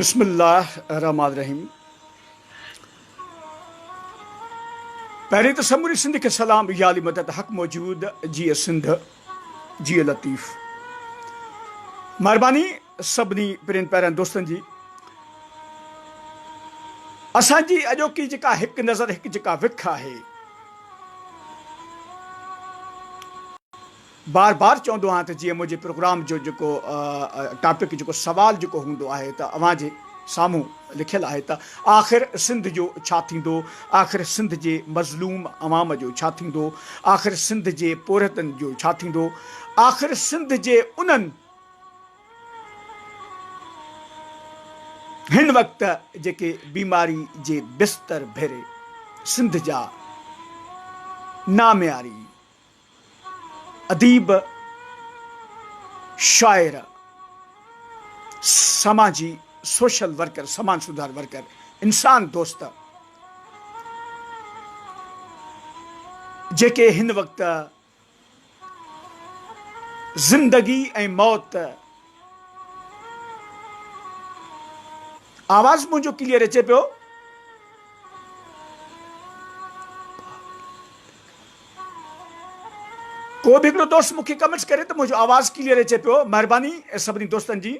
بسم الله الرحمٰن الرحيم پهرين ته سموري سنڌ کي سلام يا علي مدد حق موجود جيئي سنڌ جيئي لطيف مهرباني سڀني پرين پيرن دوستن جي اسان جي اڄوڪي جيڪا هڪ نظر هڪ جيڪا وک آهي بار بار چوندو آهيان ته جيئن منهنجي پروگرام جو جيڪو ٽاپڪ جيڪو سوال جيڪو هوندو آهي ته اوهان جي سامهون لکيل آهي ته آخر سنڌ جو ڇا ٿيندو؟ آخر سنڌ جي مظلوم عوام جو ڇا ٿيندو؟ آخر سنڌ جي پورهيتن جو ڇا ٿيندو؟ آخر سنڌ جي انهن هن وقت جيڪي بيماري جي بستر ڀيري سنڌ جا نامياري اديب، شاعر، سماجي سوشل ورڪر، سماج سڌار ورڪر، انسان دوست، جيڪي هن وقت زندگي ۽ موت آواز منهنجو ڪليئر اچي پيو. ڪو به هڪڙو دوست مون کي ڪمينٽس ڪري ته منهنجو آواز ڪليئر اچي پيو مهرباني سڀني دوستن جي.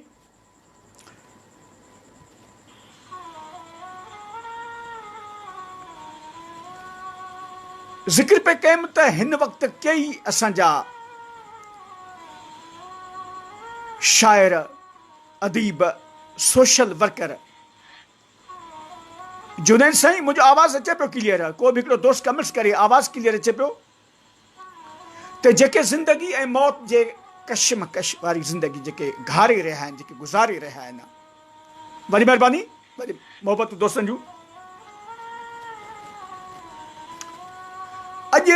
ذڪر پئي ڪيم ته هن وقت ڪيئي اسان جا شاعر، اديب، سوشل ورڪر جنيد سائين منهنجو آواز اچي پيو ڪليئر ڪو به هڪڙو دوست ڪمينٽس ڪري آواز ڪليئر اچي پيو ته جيڪي زندگي ۽ موت جي ڪشمڪش واري زندگي جيڪي گهاري رهيا آهن جيڪي گذاري رهيا آهن وڏي مهرباني وڏي محبتون دوستن جون اڄ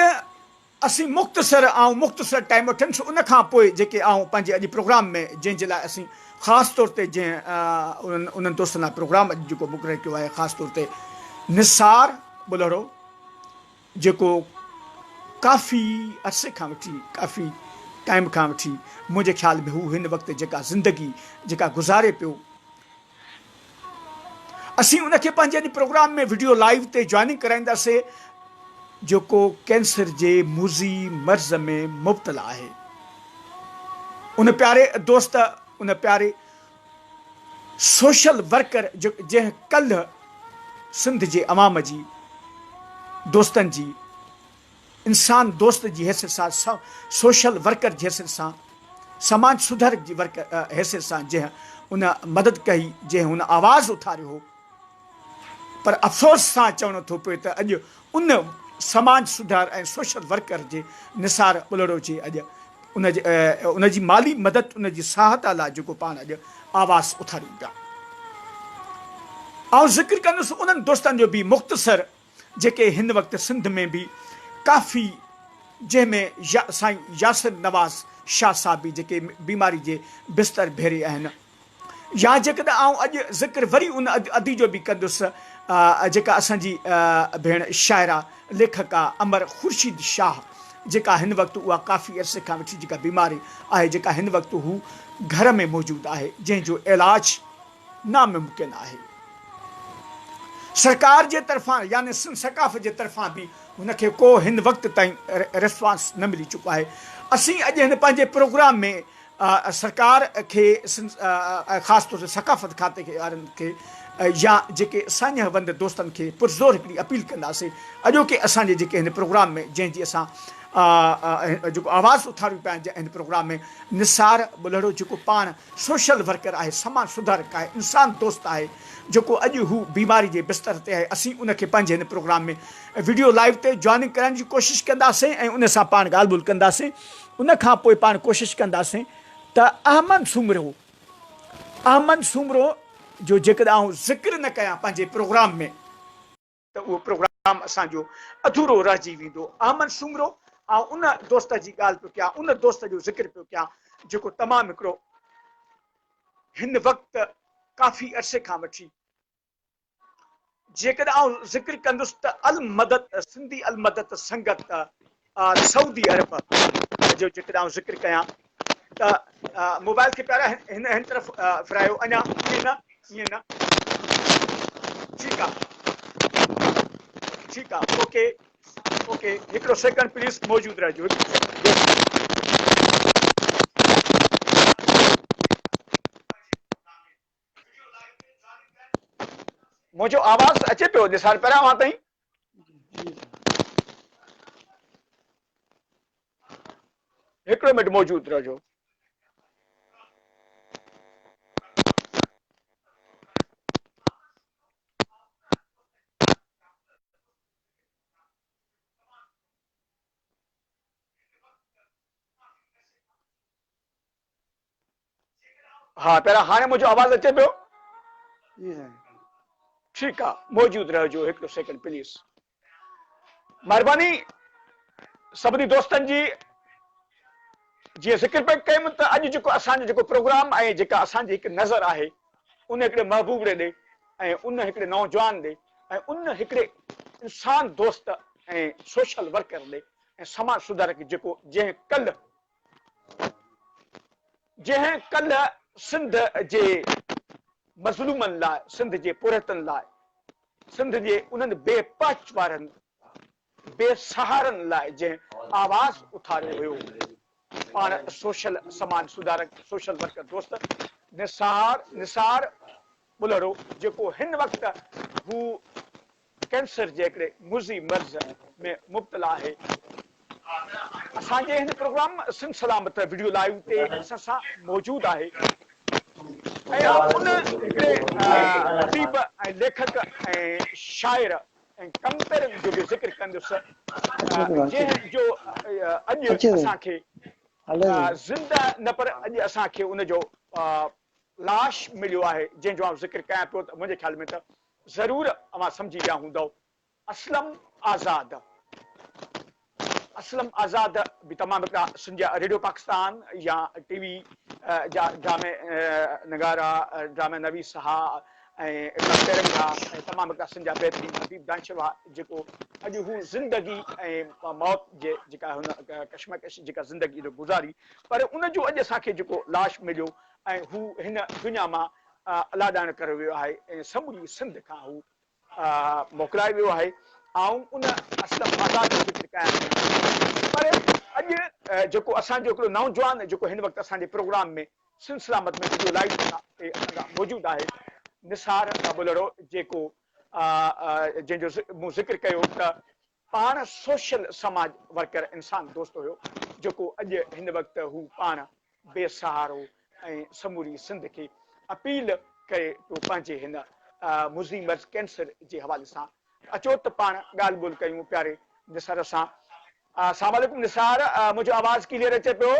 اسين مختصر آئون مختصر ٽائيم وٺندس ان کان پوء جيڪي آئون پنهنجي اڄ پروگرام ۾ جنهن جي لاء اسين خاص طور تي جنهن انهن انهن دوستن لاء پروگرام اڄ جيڪو مقرر ڪيو آهي خاص طور تي نثار ٻلهڙو جيڪو ڪافي عرصي کان وٺي ڪافي ٽائيم کان وٺي منهنجي خيال ۾ هو هن وقت جيڪا زندگي جيڪا گذاري پيو اسين ان کي پنهنجي ان پروگرام ۾ وڊيو لائيو تي جوائننگ ڪرائينداسين جيڪو ڪينسر جي موذي مرض ۾ مبتلا آهي ان پياري دوست ان پياري سوشل ورڪر جنهن ڪلهه سنڌ جي عوام جي دوستن جي انسان دوست جي حيثيت سان، سوشل ورڪر جي حيثيت سان، سماج سڌارڪ جي حيثيت سان جنهن ان مدد ڪئي، جنهن هن آواز اٿاريو هو پر افسوس سان چوڻو ٿو پوي ته اڄ ان سماج سڌار ۽ سوشل ورڪر جي نثار ٻلهڙو جي اڄ ان جي مالي مدد ان جي سهائتا لاء جيڪو پاڻ اڄ آواز اٿاريون پيا آئون ذڪر ڪندس انهن دوستن جو به مختصر جيڪي هن وقت سنڌ ۾ به ڪافي جنهن ۾ سائين ياسر نواز شاهه صاحب به جيڪي بيماري جي بستر ڀيري آهن يا جيڪڏهن آئون اڄ ذڪر وري ان ادي جو به ڪندس جيڪا اسان جي ڀيڻ شاعره ليکڪا امر خورشيد شاهه جيڪا هن وقت اها ڪافي عرصي کان وٺي جيڪا بيماري آهي جيڪا هن وقت هو گهر ۾ موجود آهي جنهن جو علاج ناممڪن آهي. سرڪار جي طرفان يعني سنڌ سقاف جي طرفان به هن کي ڪو هن وقت تائين ريسپانس نه ملي چڪو آهي. اسين اڄ هن پنهنجي پروگرام ۾ سرڪار کي سنڌ ۽ خاص طور تي ثقافت کاتي کي وارن کي يا جيڪي ساڃهه وند دوستن کي پرزور هڪڙي اپيل ڪنداسين اڄوڪي اسان جي جيڪي هن پروگرام ۾ جنهن جي اسان جيڪو آواز اٿاريون پيا هن پروگرام ۾ نثار ٻلهڙو جيڪو پاڻ سوشل ورڪر آهي، سماج سڌارڪ آهي، انسان دوست آهي جيڪو اڄ هو بيماري جي بستر تي آهي، اسين ان کي پنهنجي هن پروگرام ۾ وڊيو لائيو تي جوائننگ ڪرائڻ جي ڪوشش ڪنداسين ۽ ان سان پاڻ ڳالهه ٻولهه ڪنداسين ان کان پوء پاڻ ڪوشش ڪنداسين ته احمد سومرو احمد سومرو جو جيڪڏهن آئون ذڪر نه ڪيان پنهنجي پروگرام ۾. ته اهو پروگرام اسان جو اڌورو رهجي ويندو. احمد سومرو، آئون ان دوست جي ڳالهه پيو ڪيان، ان دوست جو ذڪر پيو ڪيان، جيڪو تمام هڪڙو هن وقت ڪافي عرصي کان وٺي جيڪڏهن آئون ذڪر ڪندس ته المدت سنڌي المدت سنگت آء سعودي عرب جو جيڪڏهن آئون ذڪر ڪيان ته موبائل کي پيارا هن هن طرف ڦرايو اڃا ائين نه ائين نه ٺيڪ آهي ٺيڪ آهي اوڪي اوڪي هڪڙو سيڪنڊ پليز موجود رهجو منهنجو آواز اچي پيو نثار پهريان اوهان تائين هڪڙو منٽ موجود رهجو ها پيارا هاڻي منهنجو آواز اچي پيو؟ جي سائين ٺيڪ آ موجود رهجو هڪڙو سيڪنڊ پليز مهرباني سڀني دوستن جي جي ذڪر پئي ڪيم ته اڄ جيڪو اسان جو جيڪو پروگرام ۽ جيڪا اسان جي هڪ نظر آهي ان هڪڙي محبوبڙي ڏي ۽ ان هڪڙي نوجوان ڏي ۽ ان هڪڙي انسان دوست ۽ سوشل ورڪر ڏي ۽ سماج سڌارڪ جيڪو جنهن ڪل جنهن ڪلهه سنڌ جي مظلومن لاء، سنڌ جي پورهيتن لاء، سنڌ جي انهن بي پهچ وارن بي سهارن لاء جنهن آواز اٿاريو هيو، پاڻ سوشل سماج سڌارڪ، سوشل ورڪر دوست نثار نثار ٻلهڙو جيڪو هن وقت هو ڪينسر جهڙي مضي مرض ۾ مبتلا آهي. اسان جي هن programme Sindh Salamat video live تي اسان سان موجود آهي اها ان هڪڙي اديب ۽ ليکڪ ۽ شاعر ۽ ڪمتر جو به ذڪر ڪندس جنهن جو اڄ اسان کي زنده نه پر اڄ اسان کي ان جو لاش مليو آهي جنهن جو آئون ذڪر ڪيان پيو ته منهنجي خيال ۾ ته ضرور اوهان سمجهي ويا هوندؤ. اسلم آزاد اسلم آزاد به تمام هڪڙا سنڌيا ريڊيو پاڪستان يا ٽي وي جا ڊرامي نگارا ڊرامي نويس ها ۽ پيرنگ ها ۽ تمام هڪڙا سنڌيا بهترين حبيب دانشو ها جيڪو اڄ هو زندگي ۽ موت جي جيڪا هن ڪشمڪش جيڪا زندگي جو گذاري پر ان جو اڄ اسان کي جيڪو لاش مليو ۽ هو هن دنيا مان الاڏائڻ ڪريو ويو آهي ۽ سموري سنڌ کان هو موڪلائي ويو آهي آئون ان اسلم آزاد جو ذڪر ڪيان ٿي پر اڄ جيڪو اسان جو هڪڙو نوجوان جيڪو هن وقت اسان جي programme ۾ Sindh Salamat ۾ video live ٿا تي اسان موجود آهي نثار ٻلهڙو جيڪو جنهن جو مون ذڪر ڪيو ته پاڻ سوشل سماج ورڪر انسان دوست هيو جيڪو اڄ هن وقت هو پاڻ بي سهارو ۽ سموري سنڌ کي اپيل ڪري پيو پنهنجي هن مضي مرض ڪينسر جي حوالي سان اچو ته پاڻ ڳالهه ٻولهه ڪيون پياري نثار سان اسلام عليڪم نثار منهنجو آواز ڪليئر اچي پيو.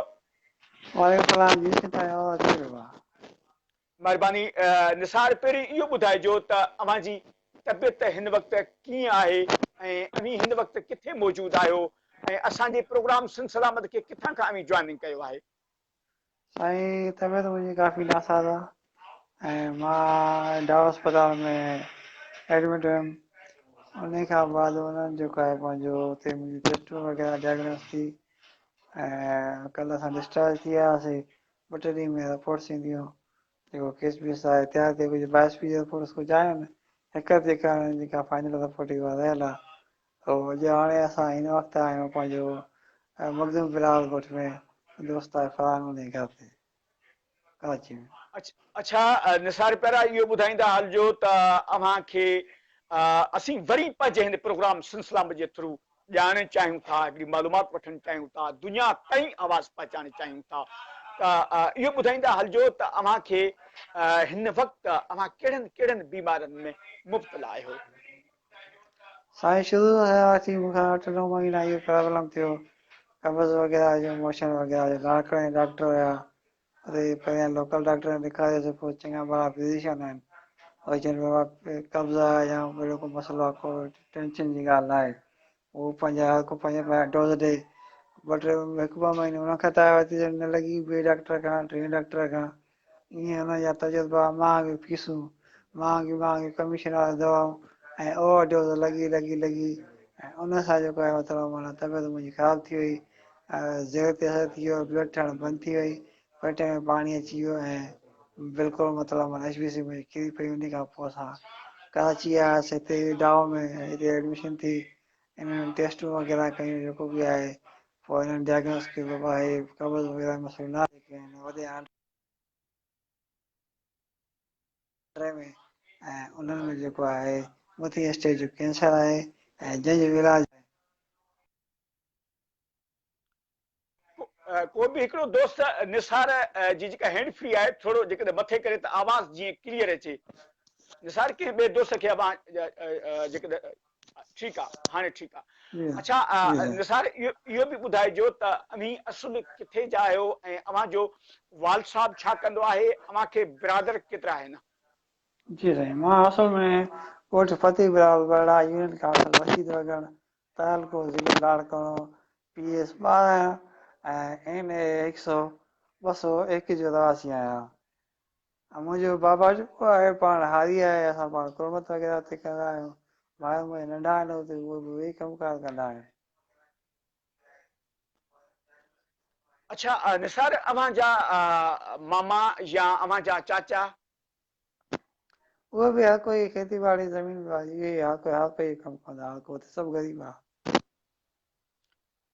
وعليڪم سلام جي سائين آواز ڪليئر آهي. مھرباني نثار پهرين اهو ٻڌائجو ته اوهان جي طبيعت هن وقت ڪيئن آهي ۽ اوهين هن وقت ڪٿي موجود آهيو ۽ اسان جي پروگرام سنڌ سلامت کي ڪٿان کان اوهين جوائننگ ڪيو آهي. سائين طبيعت منهنجي ڪافي ناساز آ ۽ مان ڊاء اسپتال ۾ ايڊمٽ هيم انهي کان بعد انهن جيڪو آهي پنهنجو اتي منهنجي ٽيسٽون وغيره ڊائگنوز ٿي ۽ ڪل اسان ڊسٽارج ٿي آياسي ٻه ٽي ڏينهن ۾ رپورٽس اينديون جيڪو ڪيس بيس آهي احتياط تي ڪجهه باء ايس پي جي رپورٽس ڪجهه آيون هڪ جيڪا جيڪا فائنل رپورٽ اها رهيل آهي تو اڄ هاڻي اسان هن وقت آهيون پنهنجو مخدوم بلاول ڳوٺ ۾ دوست آهي فرحان ان جي گهر تي ڪراچي ۾ اڇا نثار پيارا اهو ٻڌائيندا هلجو ته اوهان کي اسين وري پنهنجي هن پروگرام سنسلامه جي ٿرو ڄاڻڻ چاهيون ٿا، هڪڙي معلومات وٺڻ چاهيون ٿا، دنيا تائين آواز پهچائڻ چاهيون ٿا ته اهو ٻڌائيندا هلجو ته اوهان کي هن وقت اوهان ڪهڙن ڪهڙن بيمارين ۾ مبتلا آهيو. سائين شروع ۾ آيا هئاسين مون کان اٺ نو مهينا اهو پرابلم ٿيو قبض وغيره جو موشن وغيره جو لاڙڪاڻي ڊاڪٽر هيا اتي هي پهريان لوڪل ڊاڪٽر کي ڏيکاريو سي پوء چڱا ڀلا فزيشن آهن ۽ جن ۾ واقعي قبض آهي يا اهڙو ڪو مسئلو آهي ڪو ٽينشن جي ڳالهه نه آهي اهو پنهنجا هر ڪو پنهنجا پنهنجا ڊوز ڏئي ٻه ٽي هڪ ٻه مهيني ان کان ته آيو ته نه لڳي ٻئي ڊاڪٽر کان ٽئين ڊاڪٽر کان ائين ان جا تجربا مهانگيون فيسون مهانگيون مهانگيون ڪميشن واريون دوائون ۽ اوور ڊوز لڳي لڳي لڳي ۽ ان سان جيڪو آهي مطلب معنيٰ طبيعت منهنجي خراب ٿي وئي زيرو تي اثر ٿي ويو بلڊ ٺهڻ بند ٿي وئي پيٽ ۾ پاڻي اچي ويو ۽ بلڪل مطلب من ايچ بي سي ۾ ڪري پئي ان کان پوء اسان ڪراچي آياس هتي ڊاء ۾ هتي ايڊمشن ٿي انهن ٽيسٽون وغيره ڪيون جيڪو به آهي پوء انهن ڊائگنوس ڪيو بابا هي قبض وغيره مسئلو نه آهي ڪنهن وڏي آنڊ ٽري ۾ ۽ انهن ۾ جيڪو آهي مٿين اسٽيج جو ڪينسر آهي ۽ جنهن جو علاج ڪو به هڪڙو دوست نثار جي جيڪا هينڊ فري آهي ٿورو جيڪڏهن مٿي ڪري ته آواز جيئن ڪليئر اچي نثار ڪنهن ٻئي دوست کي اوهان جيڪڏهن ٺيڪ آهي هاڻي ٺيڪ آهي اچھا نثار اهو به ٻڌائجو ته اوهين اصل ڪٿي جا آهيو ۽ اوهان جو والد صاحب ڇا ڪندو آهي اوهان کي برادر ڪيترا آهن جي سائين مان اصل ۾ ڳوٺ فتح برال برڙا يونين ڪاوڙ وسيد وڳڻ تعلقو ضلعي لاڙڪاڻو، پي ايس ٻارهن ۽ اين اي هڪ سؤ ٻه سؤ ايڪ جو رهواسي آهيان. منهنجو بابا جيڪو آهي پاڻ هاري آهي، اسان پاڻ تربت وغيره اتي ڪندا آهيون، ڀائر منهنجا ننڍا آهن اتي اهي به ويهي ڪم ڪار ڪندا آهن. اڇا نثار اوهان جا ماما يا اوهان جا چاچا اهي به هر ڪوئي کيتي ٻاڙي زمين به آهي اهي هر ڪوئي هر ڪوئي ڪم ڪندا هر ڪوئي سڀ غريب آهي.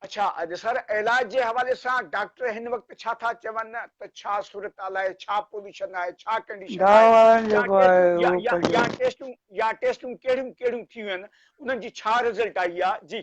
اڇا اڄ سر علاج جي حوالي سان ڊاڪٽر هن وقت ڇا ٿا چون ته ڇا صورتحال آهي ڇا پوليشن آهي ڇا ڪنڊيشن آهي يا ٽيسٽون يا ٽيسٽون ڪهڙيون ڪهڙيون ٿيون آهن انهن جي ڇا رزلٽ آئي آهي جي.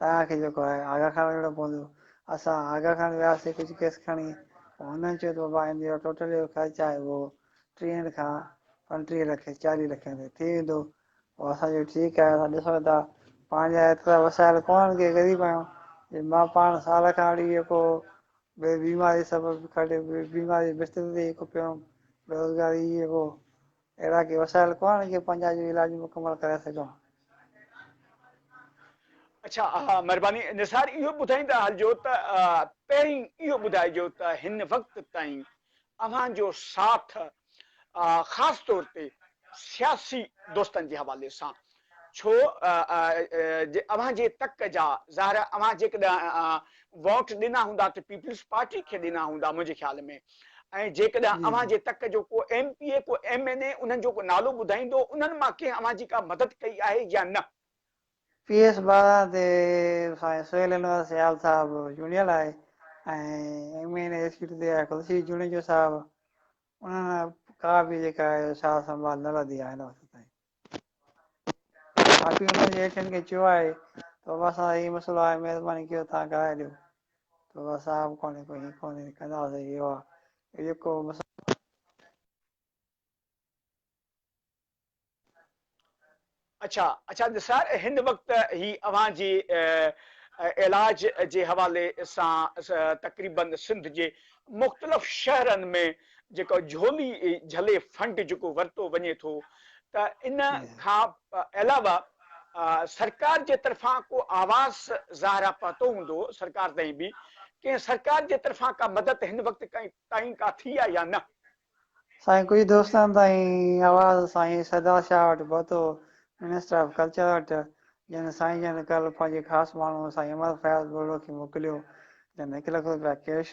توهان کي جيڪو آهي آغا خان وڃڻو پوندو. اسان آغا خان وياسي ڪجهه ڪيس کڻي ته هنن چيو ته بابا ان جو ٽوٽل جيڪو خرچ آهي اهو ٽيهن کان پنٽيهه لک چاليهه لکين تائين ٿي ويندو. پوء اسان چيو ٺيڪ آهي اسان ڏسون ٿا پنهنجا ايترا وسايل ڪونهن ڪي غريب آهيون جي مان پاڻ سال کان اڙي جيڪو بي بيماري سبب کڙي بيماري جي بستري تي جيڪو پيو هوم بيروزگاري جي جيڪو اهڙا ڪي وسائل ڪونهن جو پنهنجا جو علاج مڪمل ڪرائي سگهجن. اڇا اها مهرباني نثار اهو ٻڌائيندا هلجو ته پهرين اهو ٻڌائجو ته هن وقت تائين اوهان جو ساٿ خاص طور تي سياسي دوستن جي حوالي سان ڇو جو اوهان جي تڪ جا ظاهر آهي اوهان جيڪڏهن ووٽ ڏنا هوندا ته پيپلز پارٽي کي ڏنا هوندا منهنجي خيال ۾ ۽ جيڪڏهن اوهان جي تڪ جو ڪو ايم پي اي ڪو ايم اين اي انهن جو ڪو نالو ٻڌائيندو انهن مان ڪنهن اوهان جي ڪا مدد ڪئي آهي يا نه. پي ايس ٻارهن تي سائين سهيل انور سيال صاحب چونڊيل آهي ۽ ايم اين اي سيٽ تي آهي خورشيد جوڻيجو صاحب انهن ڪا به جيڪا آهي سار سنڀال نه لڌي آهي هن وقت تائين. باقي انهن جي هيٺين کي چيو آهي ته بابا صاحب هي مسئلو آهي مهرباني ڪيو توهان ڪرائي ڏيو ته بابا صاحب ڪونهي ڪو هي ڪونهي ڪندا سهي اهو آهي جيڪو مسئلو اڇا اڇا نثار هن وقت هي اوهان جي علاج جي حوالي سان تقريبن سنڌ جي مختلف شهرن ۾ جيڪو جهولي جهلي فنڊ جيڪو ورتو وڃي ٿو ته ان کان علاوه سرڪار جي طرفان ڪو آواز ظاهرا پهتو هوندو سرڪار تائين به ڪنهن سرڪار جي طرفان ڪا مدد هن وقت تائين ڪا ٿي آهي يا نه؟ سائين ڪجهه دوستن تائين آواز سائين سردار شاهه وٽ پهتو منسٽر آف ڪلچر وٽ جنهن سائين جن ڪل پنهنجي خاص ماڻهو سائين عمر فياض ٻولو کي موڪليو جنهن هڪ لک روپيا ڪيش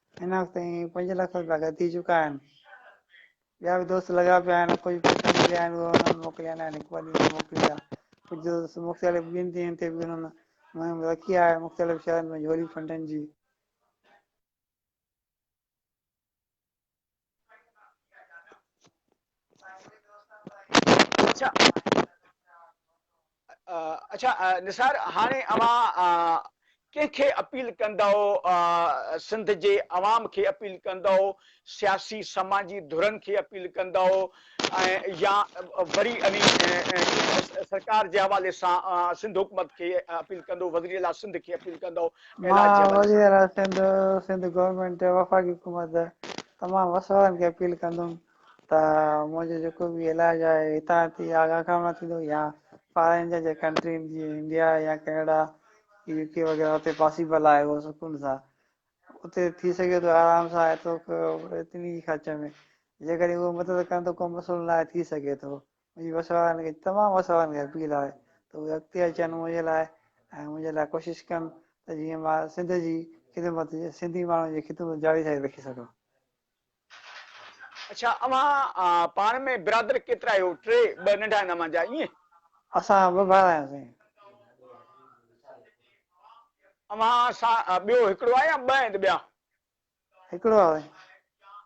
هن وقت تائين پنج لک روپيا گڏ ٿي چڪا آهن. ٻيا به دوست لڳا پيا آهن، ڪجهه پئسا مليا آهن اهي انهن کي موڪليا نه آهن، هڪ ٻه ڏينهن موڪلي ڏيا. ڪجهه دوست مختلف ٻين ڏينهن تي به انهن مهم رکي آهي، مختلف شهرن ۾ جهولي فنڊن جي. اچھا اچھا نثار هاڻي اوهان ڪنهن کي اپيل ڪندؤ سنڌ جي عوام کي اپيل ڪندؤ سياسي سماجي ڌرن کي اپيل ڪندؤ يا وري سرڪار جي حوالي سان سنڌ حڪومت کي اپيل ڪندو وزير اعليٰ سنڌ کي اپيل ڪندو مان وزير اعليٰ سنڌ سنڌ گورنمينٽ وفاقي حڪومت تمام وسوارن کي اپيل ڪندم ته منهنجو جيڪو به علاج آهي هتان ٿي آگاهه کان نه ٿيندو يا فارين جا جي ڪنٽرين جي انڊيا يا ڪينيڊا يو ڪي وغيره اتي پاسيبل آهي اهو سڪون سان اتي ٿي سگهي ٿو آرام سان ايترو ايتري خرچ ۾ جيڪڏهن اهو مدد ڪن ته ڪو مسئلو ناهي ٿي سگهي ٿو منهنجي وس وارن کي تمام وس وارن کي اپيل آهي ته اهي اڳتي اچن منهنجي لاء ۽ منهنجي لاء ڪوشش ڪن ته جيئن مان سنڌ جي خدمت سنڌي ماڻهن جي خدمت جاري رکي سگهان اڇا اوهان پاڻ ۾ برادر ڪيترا آهيو ٽي ٻه ننڍا هن مان جا ائين. اسان ٻه ڀائر آهيون سائين. اوهان سان ٻيو هڪڙو آهي يا ٻه آهن ته ٻيا. هڪڙو آهي سائين.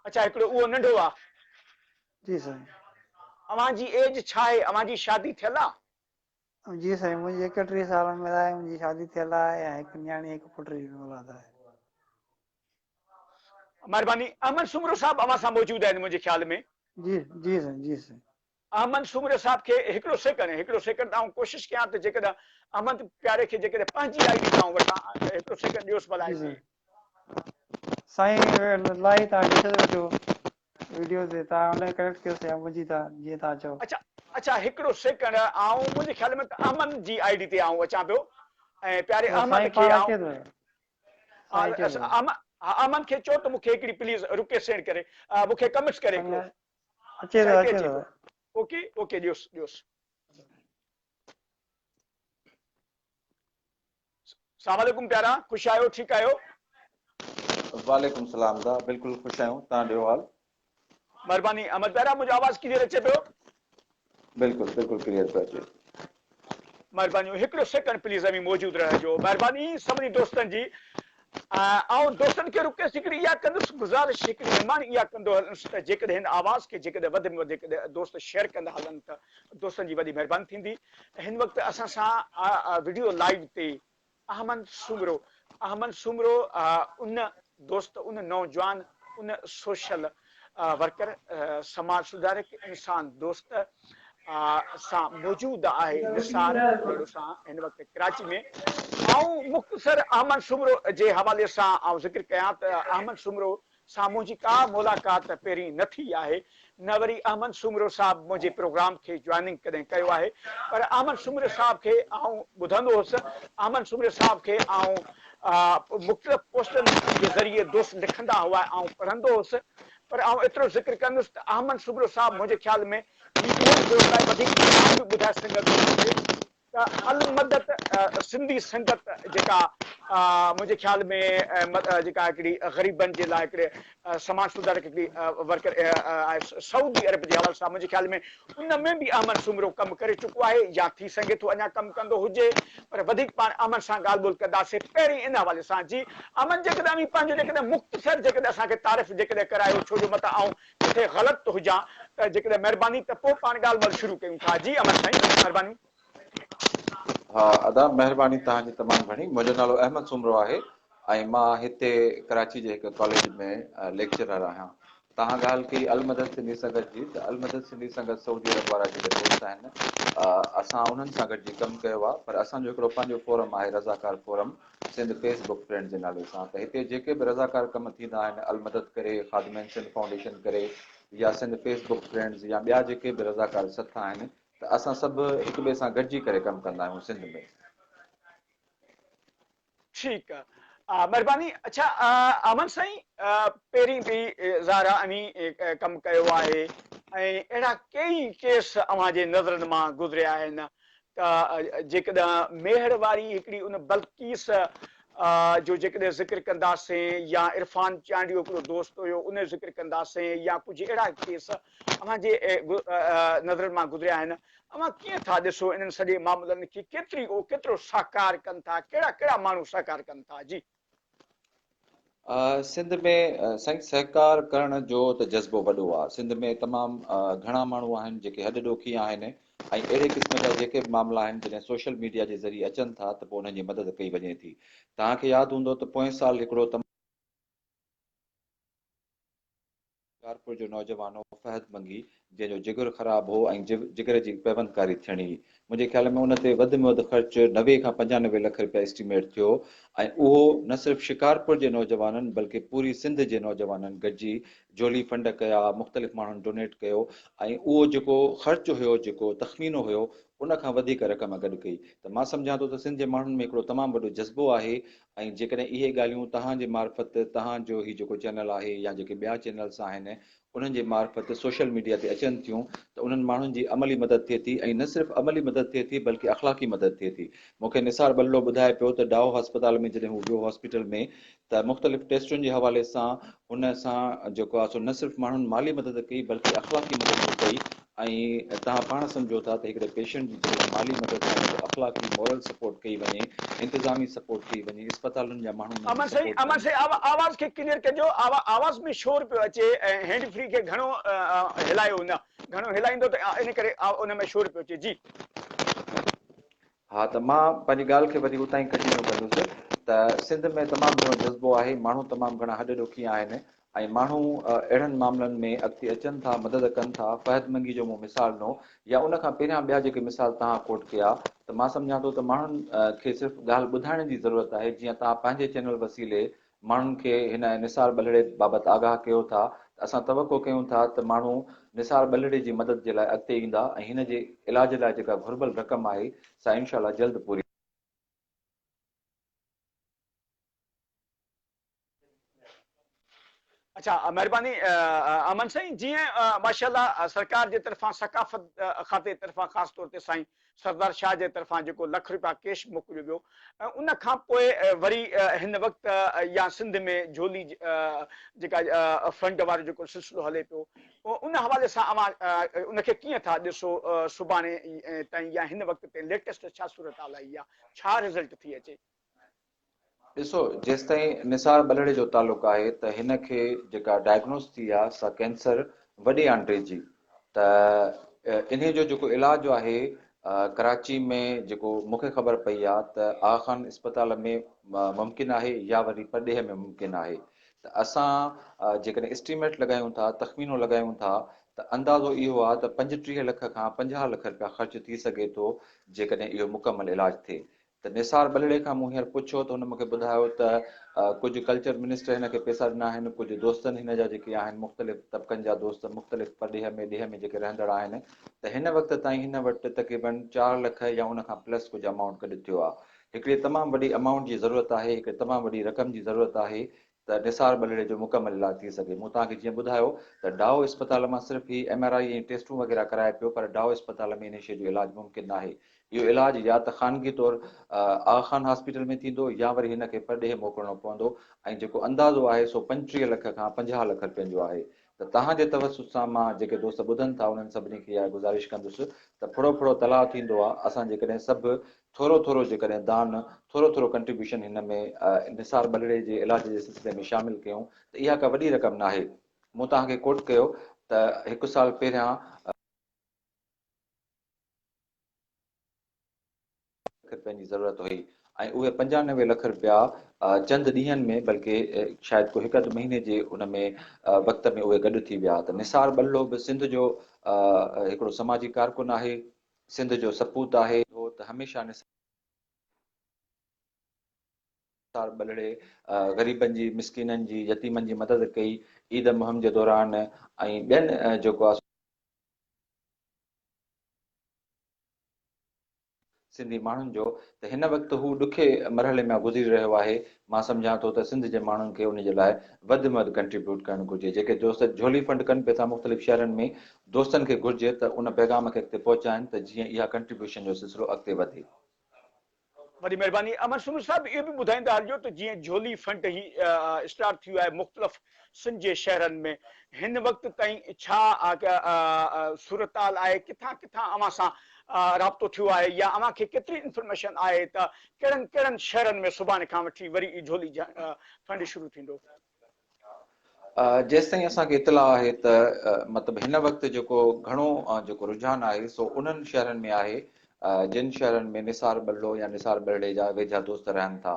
اڇا هڪڙو اهو ننڍو آ. جي سائين. اوهان جي ايج ڇا آهي اوهان جي شادي ٿيل آ. جي سائين منهنجي ايڪٽيهه سال عمر آهي منهنجي شادي ٿيل آهي ۽ هڪ نياڻي هڪ پٽ جي به اولاد آهي. مھرباني احمد سومرو صاحب اوھان سان موجود آھن منھنجي خيال ۾. جي جي سائين جي سائين. احمد سومري صاحب کي هڪڙو سيڪنڊ هڪڙو سيڪنڊ آئون ڪوشش ڪيان ته جيڪڏهن احمد پياري کي جيڪڏهن پنهنجي آئي ڊي تان آئون وٺان هڪڙو سيڪنڊ ڏيوس ڀلا هتي سائين الاهي تان ڏسي ٿو اچو ويڊيو تي تان الائي ڪريڪٽ ڪيو سي منهنجي تان جيئن تان چئو. اڇا اڇا هڪڙو سيڪنڊ آئون منهنجي خيال ۾ ته احمد جي آئي ڊي تي آئون اچان پيو ۽ پياري احمد کي آئون ها احمد کي چئو ته مون کي هڪڙي پليز رڪي سينڊ ڪري مون کي ڪميٽس ڪري هڪڙو اچي ٿو اچي ٿو اوڪي اوڪي ڏيوس ڏيوس. سلام عليڪم پيارا خوش آهيو ٺيڪ آهيو. وعليڪم سلام حمده بلڪل خوش آهيون تهان ڏيو حال. مھرباني احمد پيارا منھنجو آواز ڪليئر اچي پيو. بلڪل بلڪل ڪليئر پيو اچي. مھربانيون ھڪڙو سيڪنڊ پليز اوھين موجود رھجو مھرباني سڀني دوستن جي آئون دوستن کي رڪيس هڪڙي اها ڪندس گذارش هڪڙي نماڻي اها ڪندو هلنس ته جيڪڏهن هن آواز کي جيڪڏهن وڌ ۾ وڌيڪ دوست شيئر ڪندا هلن ته دوستن جي وڏي مهرباني ٿيندي هن وقت اسان سان وڊيو لائيو تي احمد سومرو احمد سومرو ان دوست ان نوجوان ان سوشل ورڪر سماج سڌارڪ انسان دوست سان موجود آهي نثار ٻرڙو سان هن وقت ڪراچي ۾ آئون مختصر احمد سومرو جي حوالي سان آئون ذڪر ڪيان ته احمد سومرو سان منهنجي ڪا ملاقات پهرين نه ٿي آهي نه وري احمد سومرو صاحب منهنجي پروگرام کي جوائننگ ڪڏهن ڪيو آهي پر احمد سومرو صاحب کي آئون ٻڌندو هوس احمد سومرو صاحب کي آئون مختلف پوسٽن جي ذريعي دوست لکندا هئا ۽ آئون پڙهندو هوس پر آئون ايترو ذڪر ڪندس ته احمد سگرو صاحب منهنجي خيال ۾ هي اهڙن دوست لاء وڌيڪ احترام به ٻڌائي سگهندو هجي ته المدت سنڌي سنگت جيڪا منهنجي خيال ۾ جيڪا هڪڙي غريبن جي لاء هڪڙي سماج سڌاري ڪي ورڪر آء سعودي عرب جي حوالي سان منهنجي خيال ۾ ان ۾ به احمد سومرو ڪم ڪري چڪو آهي يا ٿي سگهي ٿو اڃا ڪم ڪندو هجي پر وڌيڪ پاڻ احمد سان ڳالهه ٻولهه ڪنداسين پهرين ان حوالي سان جي احمد جيڪڏهن اوهين پنهنجو جيڪڏهن مختصر جيڪڏهن اسان کي تعارف جيڪڏهن ڪرايو ڇو جو متان آئون ڪٿي غلط هجان ته جيڪڏهن مهرباني ته پوء پاڻ ڳالهه ٻولهه شروع ڪيون ٿا جي احمد سائين مهرباني. ها ادا مهرباني توهان جي تمام گهڻي منهنجو نالو احمد سومرو آهي ۽ مان هتي ڪراچي جي هڪ ڪاليج ۾ ليڪچرر آهيان توهان ڳالهه ڪئي المدد سنڌي سنگت جي ته المدد سنڌي سنگت سعودي عرب وارا جيڪي دوست آهن اسان انهن سان گڏجي ڪم ڪيو آهي پر اسان جو هڪڙو پنهنجو فورم آهي رضاڪار forum Sindh Facebook friend جي نالي سان ته هتي جيڪي به رضاڪار ڪم ٿيندا آهن المدد ڪري خادمين سنڌ فائونڊيشن ڪري يا سنڌ فيس بڪ فرينڊز يا ٻيا جيڪي به رضاڪار سٿ آهن ته اسان سڀ هڪ ٻئي سان گڏجي ڪري ڪم ڪندا آهيون سنڌ ۾. ٺيڪ آ مھرباني. اڇا احمد سائين پهرين به زهرا اوهين ڪم ڪيو آهي ۽ اهڙا ڪيئي ڪيس اوهان جي نظرن مان گذريا آهن ته جيڪڏهن ميهڙ واري هڪڙي ان بلقيس جو جيڪڏهن ذڪر ڪنداسين يا عرفان چانڊيو هڪڙو دوست هيو ان جو ذڪر ڪنداسين يا ڪجهه اهڙا ڪيس اوهان جي نظرن مان گذريا آهن، اوهان ڪيئن ٿا ڏسو انهن سڄي معاملن کي ڪيتري او ڪيترو سهڪار ڪن ٿا، ڪهڙا ڪهڙا ماڻهو سهڪار ڪن ٿا؟ جي. سنڌ ۾ سائين سهڪار ڪرڻ جو ته جذبو وڏو آ، سنڌ ۾ تمام گهڻا ماڻهو آهن جيڪي هڏ ڏوکي آهن ۽ اهڙي قسم جا جيڪي به معاملا آهن جڏهن سوشل ميڊيا جي ذريعي اچن ٿا ته پوء انهن جي مدد ڪئي وڃي ٿي، توهان کي ياد هوندو ته پوئين سال هڪڙو تمام. ڪارپور جو نوجوان هو فهد منگي جنهن جو جگر خراب هو ۽ جگر جي پيوندڪاري ٿيڻي هئي منهنجي خيال ۾ ان تي وڌ ۾ وڌ خرچ نوي کان پنجانوي لک رپيا اسٽيميٽ ٿيو ۽ اهو نه صرف شڪارپور جي نوجوانن بلڪه پوري سنڌ جي نوجوانن گڏجي جهولي فنڊ ڪيا مختلف ماڻهن ڊونيٽ ڪيو ۽ اهو جيڪو خرچ هيو جيڪو تخمينو هيو ان کان وڌيڪ رقم گڏ ڪئي ته مان سمجهان ٿو ته سنڌ جي ماڻهن ۾ هڪڙو تمام وڏو جذبو آهي ۽ جيڪڏهن اهي ڳالهيون توهان جي معرفت توهان جو هي جيڪو چينل آهي يا جيڪي ٻيا چينلس آهن انهن جي معرفت سوشل ميڊيا تي اچن ٿيون ته انهن ماڻهن جي عملي مدد ٿئي ٿي ۽ نه صرف عملي مدد ٿئي ٿي بلڪه اخلاقي مدد ٿئي ٿي مون کي نثار ٻلڙو ٻڌائي پيو ته ڊائو هسپتال ۾ جڏهن هو ويو هاسپيٽل ۾ ته مختلف ٽيسٽن جي حوالي سان ان سان جيڪو آهي سو نه صرف ماڻهن مالي مدد ڪئي بلڪه اخلاقي مدد به ڪئي ۽ توهان پاڻ سمجهو ٿا ته هڪڙي پيشنٽ جي جيڪڏهن مالي مدد نه ڪري اخلاقي مورل سپورٽ ڪئي وڃي انتظامي سپورٽ ڪئي وڃي اسپتالن جا ماڻهو انهن جي سپورٽ ڪن. آواز کي ڪليئر ڪجو آواز ۾ شور پيو اچي ۽ هينڊ فري کي گهڻو هلايو نه گهڻو هلائيندو ته ان ڪري ان ۾ شور پيو اچي جي. ها ته مان پنهنجي ڳالهه کي وري اتان ئي ڪنٽينيو ڪندس ته سنڌ ۾ تمام گهڻو جذبو آهي، ماڻهو تمام گهڻا هڏ ڏوکي آهن ۽ ماڻهو اهڙن معاملن ۾ اڳتي اچن ٿا، مدد ڪن ٿا، فهد منگي جو مون مثال ڏنو يا ان کان پهريان ٻيا جيڪي مثال توهان ڪوٽ ڪيا ته مان سمجهان ٿو ته ماڻهن کي صرف ڳالهه ٻڌائڻ جي ضرورت آهي جيئن توهان پنهنجي چينل وسيلي ماڻهن کي هن نثار ٻلهڙي بابت آگاهه ڪيو ٿا ته اسان توقع ڪيون ٿا ته ماڻهو نثار ٻلهڙي جي مدد جي لاء اڳتي ايندا ۽ هن جي علاج لاء جيڪا گهربل رقم آهي سا انشاء الله جلد پوري اچا مهرباني امن سائين جيئن ماشاء الله سرڪار جي طرفان ثقافت کاتي طرفان خاص طور تي سائين سردار شاهه جي طرفان جيڪو لک رپيا ڪيش موڪليو ويو ۽ ان کان پوء وري هن وقت يا سنڌ ۾ جهولي جيڪا فنڊ وارو جيڪو سلسلو هلي پيو ان حوالي سان اوهان ان کي ڪيئن ٿا ڏسو سڀاڻي تائين يا هن وقت تائين ليٽيسٽ ڇا صورتحال آئي آهي ڇا رزلٽ ٿي اچي؟ ڏسو جيستائين نثار ٻلهڙي جو تعلق آهي ته هن کي جيڪا ڊائگنوز ٿي آ سا ڪينسر وڏي آنڊري جي ته انهي جو جيڪو علاج آهي ڪراچي ۾ جيڪو مونکي خبر پئي آ ته آغا خان اسپتال ۾ ممڪن آهي يا وري پرڏيهه ۾ ممڪن آهي ته اسان جيڪڏهن اسٽيميٽ لڳايون ٿا تخمينو لڳايون ٿا ته اندازو اهو آ ته پنجٽيهه لک کان پنجاهه لک رپيا خرچ ٿي سگهي ٿو جيڪڏهن اهو مڪمل علاج ٿئي ته نثار ٻلهڙي کان مون هينئر پڇيو ته هن مون کي ٻڌايو ته ڪجهه ڪلچر منسٽر هن کي پئسا ڏنا آهن، ڪجهه دوستن هن جا جيڪي آهن مختلف طبقن جا دوست مختلف پرڏيهه ۾ ڏيهه ۾ جيڪي رهندڙ آهن ته هن وقت تائين هن وٽ تقريبن چار لک يا ان کان پلس ڪجهه امائونٽ گڏ ٿيو آهي. هڪڙي تمام وڏي امائونٽ جي ضرورت آهي، هڪڙي تمام وڏي رقم جي ضرورت آهي، ته نثار ٻلڙي جو مڪمل علاج ٿي سگهي. مون توهان کي جيئن ٻڌايو ته ڊائو اسپتال مان صرف هي ايم آر آئي ۽ ٽيسٽون وغيره ڪرائي پيو پر ڊائو اسپتال ۾ انهي شيء جو علاج ممڪن ناهي. اهو علاج يا ته خانگي طور آغا خان هاسپيٽل ۾ ٿيندو يا وري هن کي پرڏيهه موڪلڻو پوندو ۽ جيڪو اندازو آهي سو پنجٽيهه لک کان پنجاهه لک رپين جو آهي ته توهان جي توسط سان مان جيڪي دوست ٻڌن ٿا انهن سڀني کي اها گذارش ڪندس ته ڦڙو ڦڙو تلاء ٿيندو آ اسان جيڪڏهن سڀ ٿورو ٿورو جيڪڏهن دان، ٿورو ٿورو ڪنٽريبيوشن هن ۾ انحصار ٻلڙي جي علاج جي سلسلي ۾ شامل ڪيون ته اها ڪا وڏي رقم ناهي. مون توهان کي ڪوٽ ڪيو ته هڪ سال پهريان. لک رپين جي ضرورت هئي ۽ اهي پنجانوي لک رپيا چند ڏينهن ۾ بلڪه شايد ڪو هڪ اڌ مهيني جي ان ۾ وقت ۾ اهي گڏ ٿي ويا ته نثار ٻلڙو به سنڌ جو هڪڙو سماجي ڪارڪن آهي. سنڌ جو سپوت آهي ٿو ته هميشه نثار ٻلهڙي غريبن جي، مسڪينن جي، يتيمن جي مدد ڪئي. عيد مهم جي دوران ۽ ٻين جيڪو آ سو. سنڌي ماڻهن جو ته هن وقت هو ڏکي مرحلي مان گذري رهيو آهي مان سمجهان ٿو ته سنڌ جي ماڻهن کي ان جي لاء وڌ م وڌ ڪنٽريبيوٽ ڪرڻ گهرجي جيڪي دوست جهولي فنڊ ڪن پي ٿا مختلف شهرن ۾ دوستن کي گهرجي ته ان پيغام کي اڳتي پهچائين ته جيئن اها ڪنٽريبيوشن جو سلسلو اڳتي وڌي. وڏي مهرباني امن سومري صاحب اهو به ٻڌائيندا هلجو ته جيئن جهولي فنڊ هي اسٽارٽ ٿيو آهي مختلف سنڌ جي شهرن ۾ هن وقت تائين ڇا صورتحال آهي ڪٿان ڪٿان اوهان سان رابطو ٿيو آهي يا اوهان کي ڪيتري انفرميشن آهي ته ڪهڙن ڪهڙن شهرن ۾ سڀاڻي کان وٺي وري جهولي فنڊ شروع ٿيندو. جيستائين اسان کي اطلاع آهي ته مطلب هن وقت جيڪو گهڻو جيڪو رجحان آهي سو انهن شهرن ۾ آهي جن شهرن ۾ نثار ٻلڙو يا نثار ٻلڙي جا ويجها دوست رهن ٿا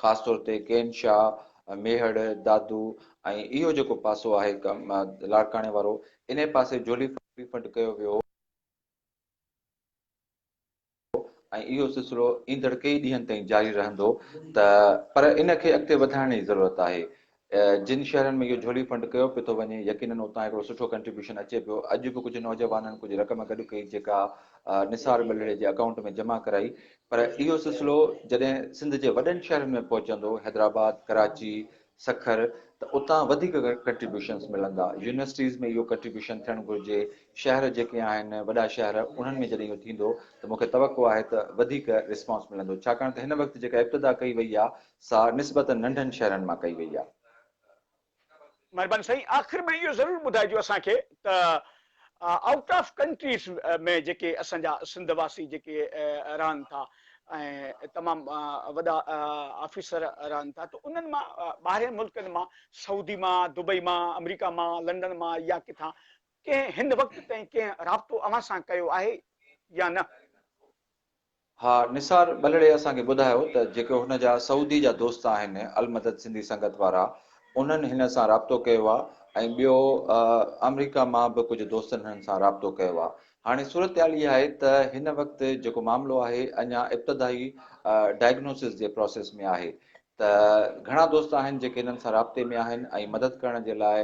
خاص طور تي ڪين شاهه، ميهڙ، دادو ۽ اهو جيڪو پاسو آهي لاڙڪاڻي وارو انهي پاسي جهولي ڦٽ ڦٽ ڪيو ويو هو. ۽ اهو سلسلو ايندڙ ڪيئي ڏينهن تائين جاري رهندو ته پر ان کي اڳتي وڌائڻ جي ضرورت آهي جن شهرن ۾ اهو جھولي فنڊ ڪيو پيو ٿو وڃي يقينن اتان هڪڙو سٺو ڪنٽريبيوشن اچي پيو اڄ به ڪجهه نوجوانن ڪجهه رقم گڏ ڪئي جيڪا نثار ٻلڙي جي اڪائونٽ ۾ جمع ڪرائي پر اهو سلسلو جڏهن سنڌ جي وڏن شهرن ۾ پهچندو حيدرآباد ڪراچي سکر ته اتان وڌيڪ ڪنٽريبيوشنس ملندا، يونيورسٽيز ۾ اهو ڪنٽريبيوشن ٿيڻ گهرجي، شهر جيڪي آهن وڏا شهر انهن ۾ جڏهن اهو ٿيندو ته مون کي توقع آهي ته وڌيڪ ريسپانس ملندو ڇاڪاڻ ته هن وقت جيڪا ابتدا ڪئي وئي آهي سا نسبتا ننڍن شهرن مان ڪئي وئي آهي. مھرباني سائين آخر ۾ اھو ضرور ٻڌائجو اسان کي ته آئوٽ آف ڪنٽريز ۾ جيڪي اسان جا سنڌ واسي جيڪي رهن ٿا ۽ تمام وڏا آفيسر رهن ٿا ته انهن مان ٻاهرين ملڪن مان سعودي مان دبئي مان آمريڪا مان لنڊن مان يا ڪٿان ڪنهن هن وقت تائين ڪنهن رابطو اوهان سان ڪيو آهي يا نه؟ ها نثار ٻلڙي اسان کي ٻڌايو ته جيڪي هن جا سعودي جا دوست آهن المدد سنڌي سنگت وارا انهن هن سان رابطو ڪيو آ ۽ ٻيو آمريڪا مان به ڪجهه دوستن هنن سان رابطو ڪيو آ هاڻي صورتحال اها آهي ته هن وقت جيڪو معاملو آهي اڃا ابتدائي ڊائگنوسز جي پراسيس ۾ آهي ته گهڻا دوست آهن جيڪي هنن سان رابطي ۾ آهن ۽ مدد ڪرڻ جي لاء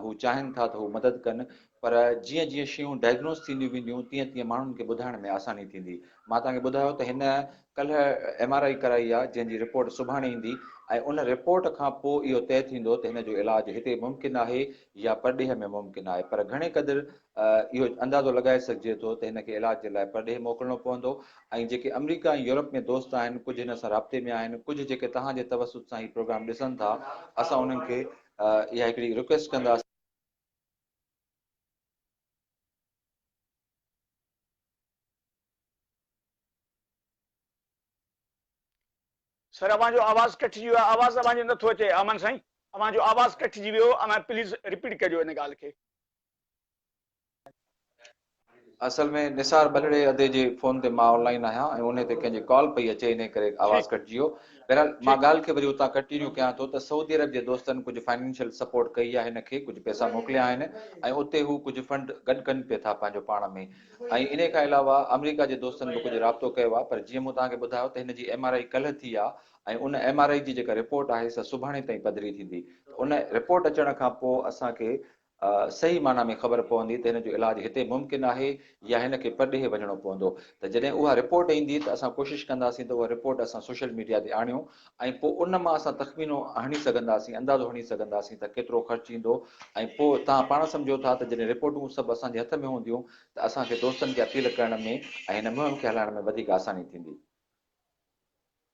هو چاهين ٿا ته هو مدد ڪن پر جيئن جيئن شيون ڊائگنوز ٿينديون وينديون تيئن تيئن ماڻهن کي ٻڌائڻ ۾ آساني ٿيندي. مان توهان کي ٻڌايو ته هن ڪلهه ايم آر آئي ڪرائي آهي جنهن جي رپورٽ سڀاڻي ايندي ۽ ان رپورٽ کان پوء اهو طئي ٿيندو ته هن جو علاج هتي ممڪن آهي يا پرڏيهه ۾ ممڪن آهي پر گهڻي قدر اهو اندازو لڳائي سگهجي ٿو ته هن کي علاج جي لاء پرڏيهه موڪلڻو پوندو ۽ جيڪي آمريڪا ۽ يورپ ۾ دوست آهن ڪجهه هن سان رابطي ۾ آهن ڪجهه جيڪي توهان جي توسط سان هي پروگرام ڏسن ٿا اسان انهن کي اها هڪڙي رڪويسٽ ڪنداسين سر اوهان جو آواز ڪٽجي ويو آهي آواز اوهان جو نٿو اچي امن سائين اوهان جو آواز ڪٽجي ويو اوهان پليز رپيٽ ڪجو ان ڳالهه کي. اصل ۾ نثار ٻلهڙي ادي جي فون تي مان آن لائين آهيان ۽ انهي تي ڪنهن جي ڪال پئي اچي انهي ڪري آواز ڪٽجي ويو بهرحال مان ڳالهه کي وري اتان ڪنٽينيو ڪيان ٿو ته سعودي عرب جي دوستن ڪجهه فائنينشل سپورٽ ڪئي آهي هن کي ڪجهه پئسا موڪليا آهن ۽ اتي هو ڪجهه فنڊ گڏ ڪن پئي ٿا پنهنجو پاڻ ۾ ۽ انهي کان علاوه آمريڪا جي دوستن به ڪجهه رابطو ڪيو آهي پر جيئن مون توهان کي ٻڌايو ته هن جي ايم آر آئي ڪلهه ٿي آهي ۽ ان ايم آر آئي جي جيڪا رپورٽ آهي سا سڀاڻي تائين پڌري ٿيندي ته ان رپورٽ اچڻ کان پوء اسان کي صحيح معنيٰ ۾ خبر پوندي ته هن جو علاج هتي ممڪن آهي يا هن کي پرڏيهه وڃڻو پوندو ته جڏهن اها رپورٽ ايندي ته اسان ڪوشش ڪنداسين ته اها رپورٽ اسان سوشل ميڊيا تي آڻيون ۽ پوء ان مان اسان تخمينو هڻي سگهنداسين اندازو هڻي سگهنداسين ته ڪيترو خرچ ايندو ۽ پوء توهان پاڻ سمجهو ٿا ته جڏهن رپورٽون سڀ اسان جي هٿ ۾ هونديون ته اسان کي دوستن کي اپيل ڪرڻ ۾ ۽ هن مهم کي هلائڻ ۾ وڌيڪ آساني ٿيندي.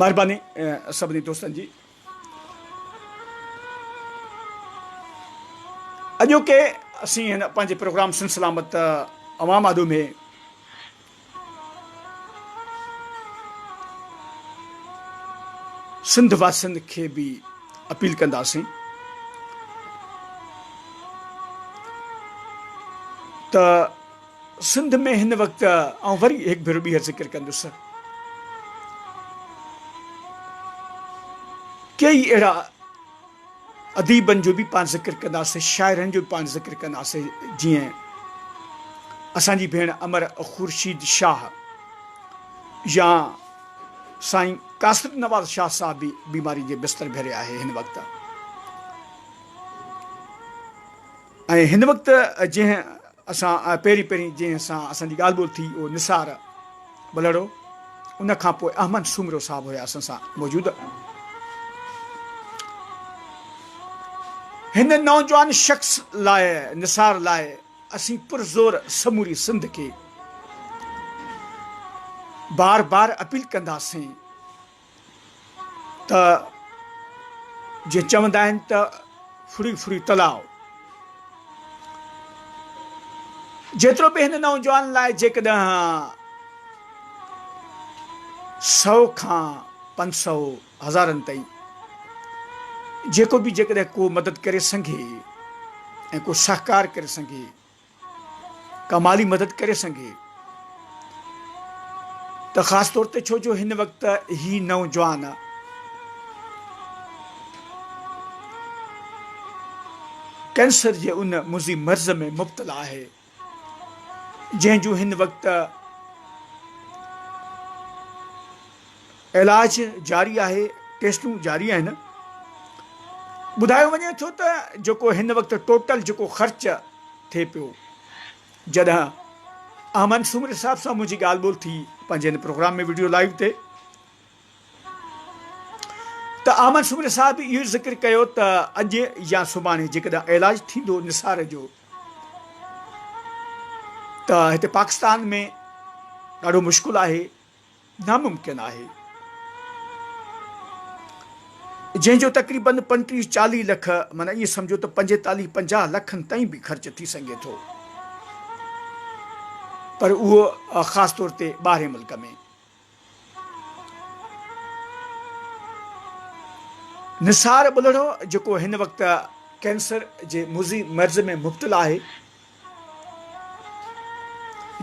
مھرباني سڀني دوستن جي. اڄوڪي اسين هن پنهنجي پروگرام سن سلامت عوام آڏو ۾ سنڌ واسين کي به اپيل ڪنداسين ته سنڌ ۾ هن وقت آئون وري هڪ ڀيرو ٻيهر ذڪر ڪندس ڪيئي اهڙا اديبن جو به پاڻ ذڪر ڪنداسين شاعرن جو به پاڻ ذڪر ڪنداسين جيئن اسان جي ڀيڻ امر خورشيد شاهه يا سائين قاصد نواز شاهه صاحب به بيماري جي بستر ڀري آهي هن وقت ۽ هن وقت جنهن اسان پهرين پهرين جنهن سان اسان جي ڳالهه ٻولهه ٿي اهو نثار ٻلهڙو هو ان کان پوء احمد سومرو صاحب هيا اسان سان موجود. هن نوجوان شخص لاء نثار لاء اسين پرزور سموري سنڌ کي بار بار اپيل ڪنداسين ته جيئن چوندا آهن ته ڦڙي ڦڙي تلاء. جيترو به هن نوجوان لاء جيڪڏهن سؤ کان پنج سؤ هزارن تائين جيڪو به جيڪڏهن ڪو مدد ڪري سگهي ۽ ڪو سهڪار ڪري سگهي ڪا مالي مدد ڪري سگهي ته خاص طور تي ڇو جو هن وقت هي نوجوان ڪينسر جي ان مضي مرض ۾ مبتلا آهي جنهن جون هن وقت علاج جاري آهي، ٽيسٽون جاري آهن. ٻڌايو وڃي ٿو ته جيڪو هن وقت ٽوٽل جيڪو خرچ ٿئي پيو جڏهن احمد سومري صاحب سان منهنجي ڳالهه ٻولهه ٿي پنهنجي هن پروگرام ۾ ويڊيو لائيو تي ته احمد سومري صاحب اهو ذڪر ڪيو ته اڄ يا سڀاڻي جيڪڏهن علاج ٿيندو نثار جو ته هتي پاڪستان ۾ ڏاڍو مشڪل آهي ناممڪن آهي، جنهن جو تقريبن پنٽيهه چاليهه لک معنيٰ ائين سمجهو ته پنجيتاليهه پنجاهه لکن تائين به خرچ ٿي سگهي ٿو، پر اهو خاص طور تي ٻاهرين ملڪ ۾. نثار ٻلهڙو جيڪو هن وقت ڪينسر جي مضي مرض ۾ مبتلا آهي،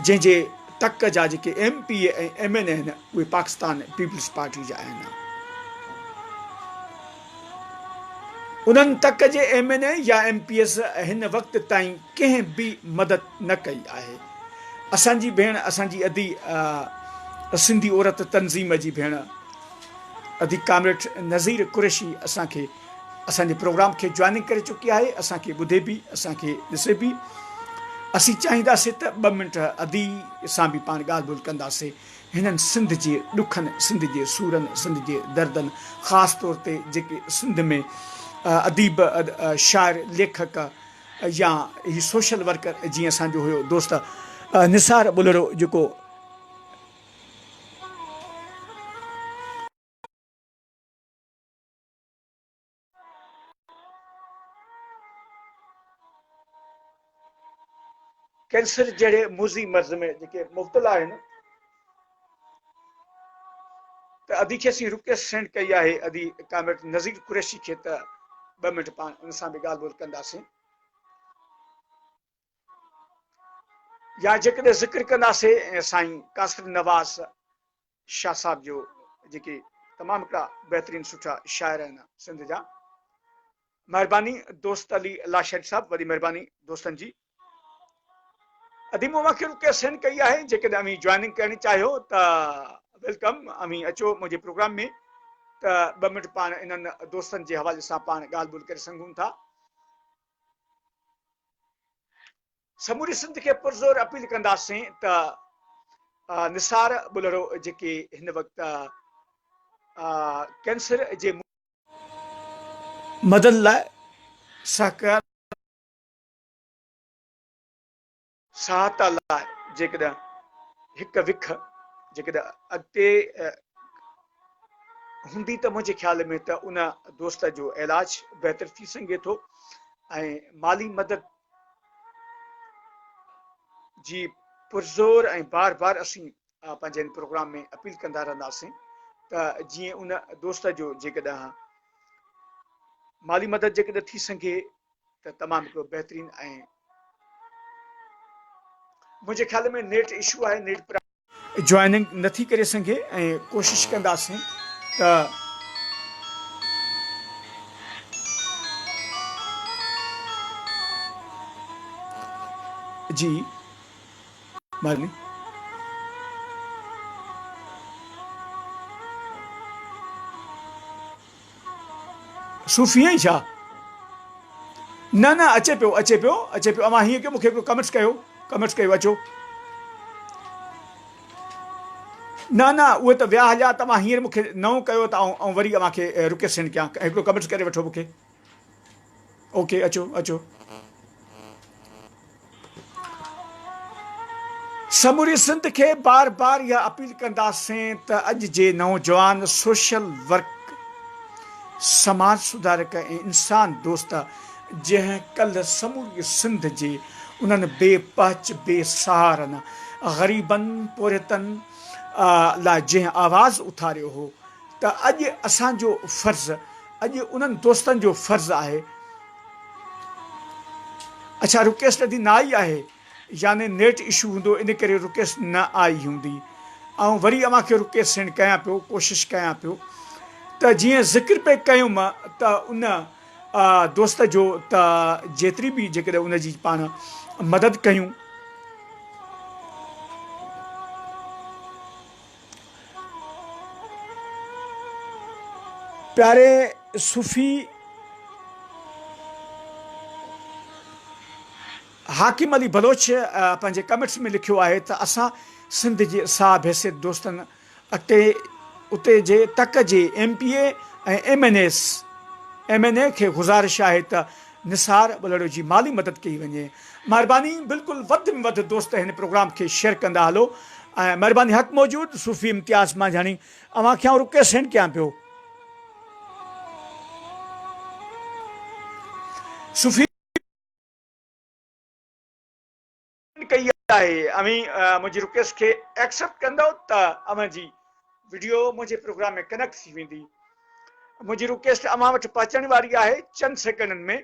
جنهن جي تڪ جا جيڪي M P A ۽ M N A آهن اهي پاڪستان پيپلز پارٽي جا آهن. انهن تڪ جي ايم اين اي يا ايم پي ايز هن وقت تائين ڪنهن به مدد نه ڪئي آهي. اسان جي ڀيڻ اسان جي ادي سنڌي عورت تنظيم جي ڀيڻ ادي ڪامريڊ نظير قريشي اسان کي اسان جي پروگرام کي جوائننگ ڪري چڪي آهي اسان کي ٻڌي بي اسان کي ڏسي بي اسين چاهيندا سي ته ٻه منٽ ادي سان به پاڻ ڳالهه ٻولهه ڪندا سي هنن سنڌ جي ڏکن سنڌ جي سورن سنڌ جي دردن خاص طور تي جيڪي سنڌ ۾ اديب شاعر ليکڪ يا هي سوشل ورڪر جي اسان جو هيو دوست نثار ٻلهڙو جيڪو ڪينسر جهڙي موذي مرض ۾ جيڪي مبتلا آهن ته ادي کي اسين رڪويسٽ سينڊ ڪئي آهي ادي ڪامريڊ نذير قريشي کي ته ٻه منٽ پاڻ ان سان به ڳالهه ٻولهه ڪنداسين يا جيڪڏهن ذڪر ڪنداسين سائين قاصد نواز شاھ صاحب جو جيڪي تمام ھڪڙا بهترين سٺا شاعر آھن سنڌ جا مھرباني دوست علي لاشاري صاحب وڏي مھرباني دوستن جي ادي مون اوهان کي رڪويسٽ سينڊ ڪئي آهي جيڪڏهن اوهين جوائننگ ڪرڻ چاهيو ته ويلڪم اوهين اچو منهنجي پروگرام ۾ ته ٻه منٽ پاڻ انهن دوستن جي حوالي سان پاڻ ڳالهه ٻولهه ڪري سگھون ٿا سموري سنڌ کي پرزور اپيل ڪنداسين ته نثار ٻلهڙو جيڪي هن وقت ڪينسر جي مدد لاء سهڪار سهايتا لاء جيڪڏهن هڪ وک جيڪڏهن اڳتي هوندي ته منهنجي خيال ۾ ته ان دوست جو علاج بهتر ٿي سگهي ٿو ۽ مالي مدد جي پرزور ۽ بار بار اسين پنهنجي ان پروگرام ۾ اپيل ڪندا رهنداسين ته جيئن ان دوست جو جيڪڏهن مالي مدد جيڪڏهن ٿي سگهي ته تمام هڪڙو بهترين ۽ منهنجي خيال ۾ نيٽ اشو آهي نيٽ جوائننگ نٿي ڪري سگهي ۽ ڪوشش ڪنداسين ته جي مهرباني صوفي آهين ڇا؟ نه نه اچي پيو اچي پيو اچي پيو اوهان هيئن ڪيو مونکي هڪڙو ڪمينٽس ڪيو ڪمينٽس ڪيو اچو نه نه اهي ته ويا هليا توهان هينئر مونکي نئون ڪيو ته آئون آئون وري اوهان کي رڪيسنڊ ڪيان هڪڙو ڪمينٽس ڪري وٺو مونکي اوڪي اچو اچو. سموري سنڌ کي بار بار اها اپيل ڪنداسين ته اڄ جي نوجوان سوشل ورڪ سماج سڌارڪ ۽ انسان دوست جنهن ڪلهه سموري سنڌ جي انهن بي پهچ بي سهارن غريبن پورهيتن لاء جنهن آواز اٿاريو هو ته اڄ اسان جو فرض اڄ انهن دوستن جو فرض آهي اڇا رڪيس ندي نه آئي آهي يعني نيٽ اشو هوندو ان ڪري رڪيس نه آئي هوندي آئون وري اوهان کي رڪيس سينڊ ڪيان پيو ڪوشش ڪيان پيو ته جيئن ذڪر پئي ڪيم ته ان دوست جو ته جيتري به جيڪڏهن ان جي پاڻ مدد ڪيون پياري صوفي حاڪم علي بلوچ پنهنجي ڪمينٽس ۾ لکيو آهي ته اسان سنڌ جي صاحب حيثيت دوستن اٽي اتي جي تڪ جي M P A ۽ M N S M N A کي گذارش آهي ته نثار ٻلهڙو جي مالي مدد ڪئي وڃي مهرباني بلڪل وڌ ۾ وڌ دوست هن پروگرام کي شيئر ڪندا هلو ۽ مهرباني حق موجود صوفي امتياز مانجهاڻي اوهان کي آئون رڪيسنڊ ڪيان پيو صوفي ڪئي آهي اوهين منهنجي رڪويسٽ کي ايڪسيپٽ ڪندو ته اوهان جي وڊيو منهنجي پروگرام ۾ ڪنيڪٽ ٿي ويندي منهنجي رڪويسٽ اوهان وٽ پهچڻ واري آهي چند سيڪنڊن ۾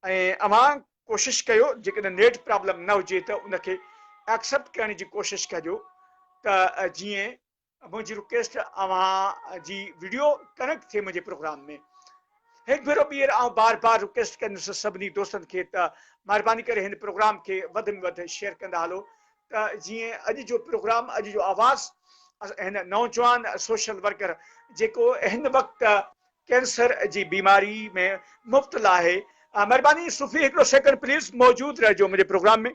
۽ اوهان ڪوشش ڪيو جيڪڏهن نيٽ پرابلم نه هجي ته ان کي ايڪسيپٽ ڪرڻ جي ڪوشش ڪجو ته جيئن منهنجي رڪويسٽ اوهان جي وڊيو ڪنڪٽ ٿئي منهنجي پروگرام ۾ هڪ ڀيرو ٻيهر آئون بار بار رڪويسٽ ڪندس سڀني دوستن کي ته مهرباني ڪري هن پروگرام کي وڌ ۾ وڌ شيئر ڪندا هلو ته جيئن اڄ جو پروگرام اڄ جو آواز هن نوجوان سوشل ورڪر جيڪو هن وقت ڪينسر جي بيماري ۾ مبتلا آهي مهرباني صوفي هڪڙو سيڪنڊ پليز موجود رهجو منهنجي پروگرام ۾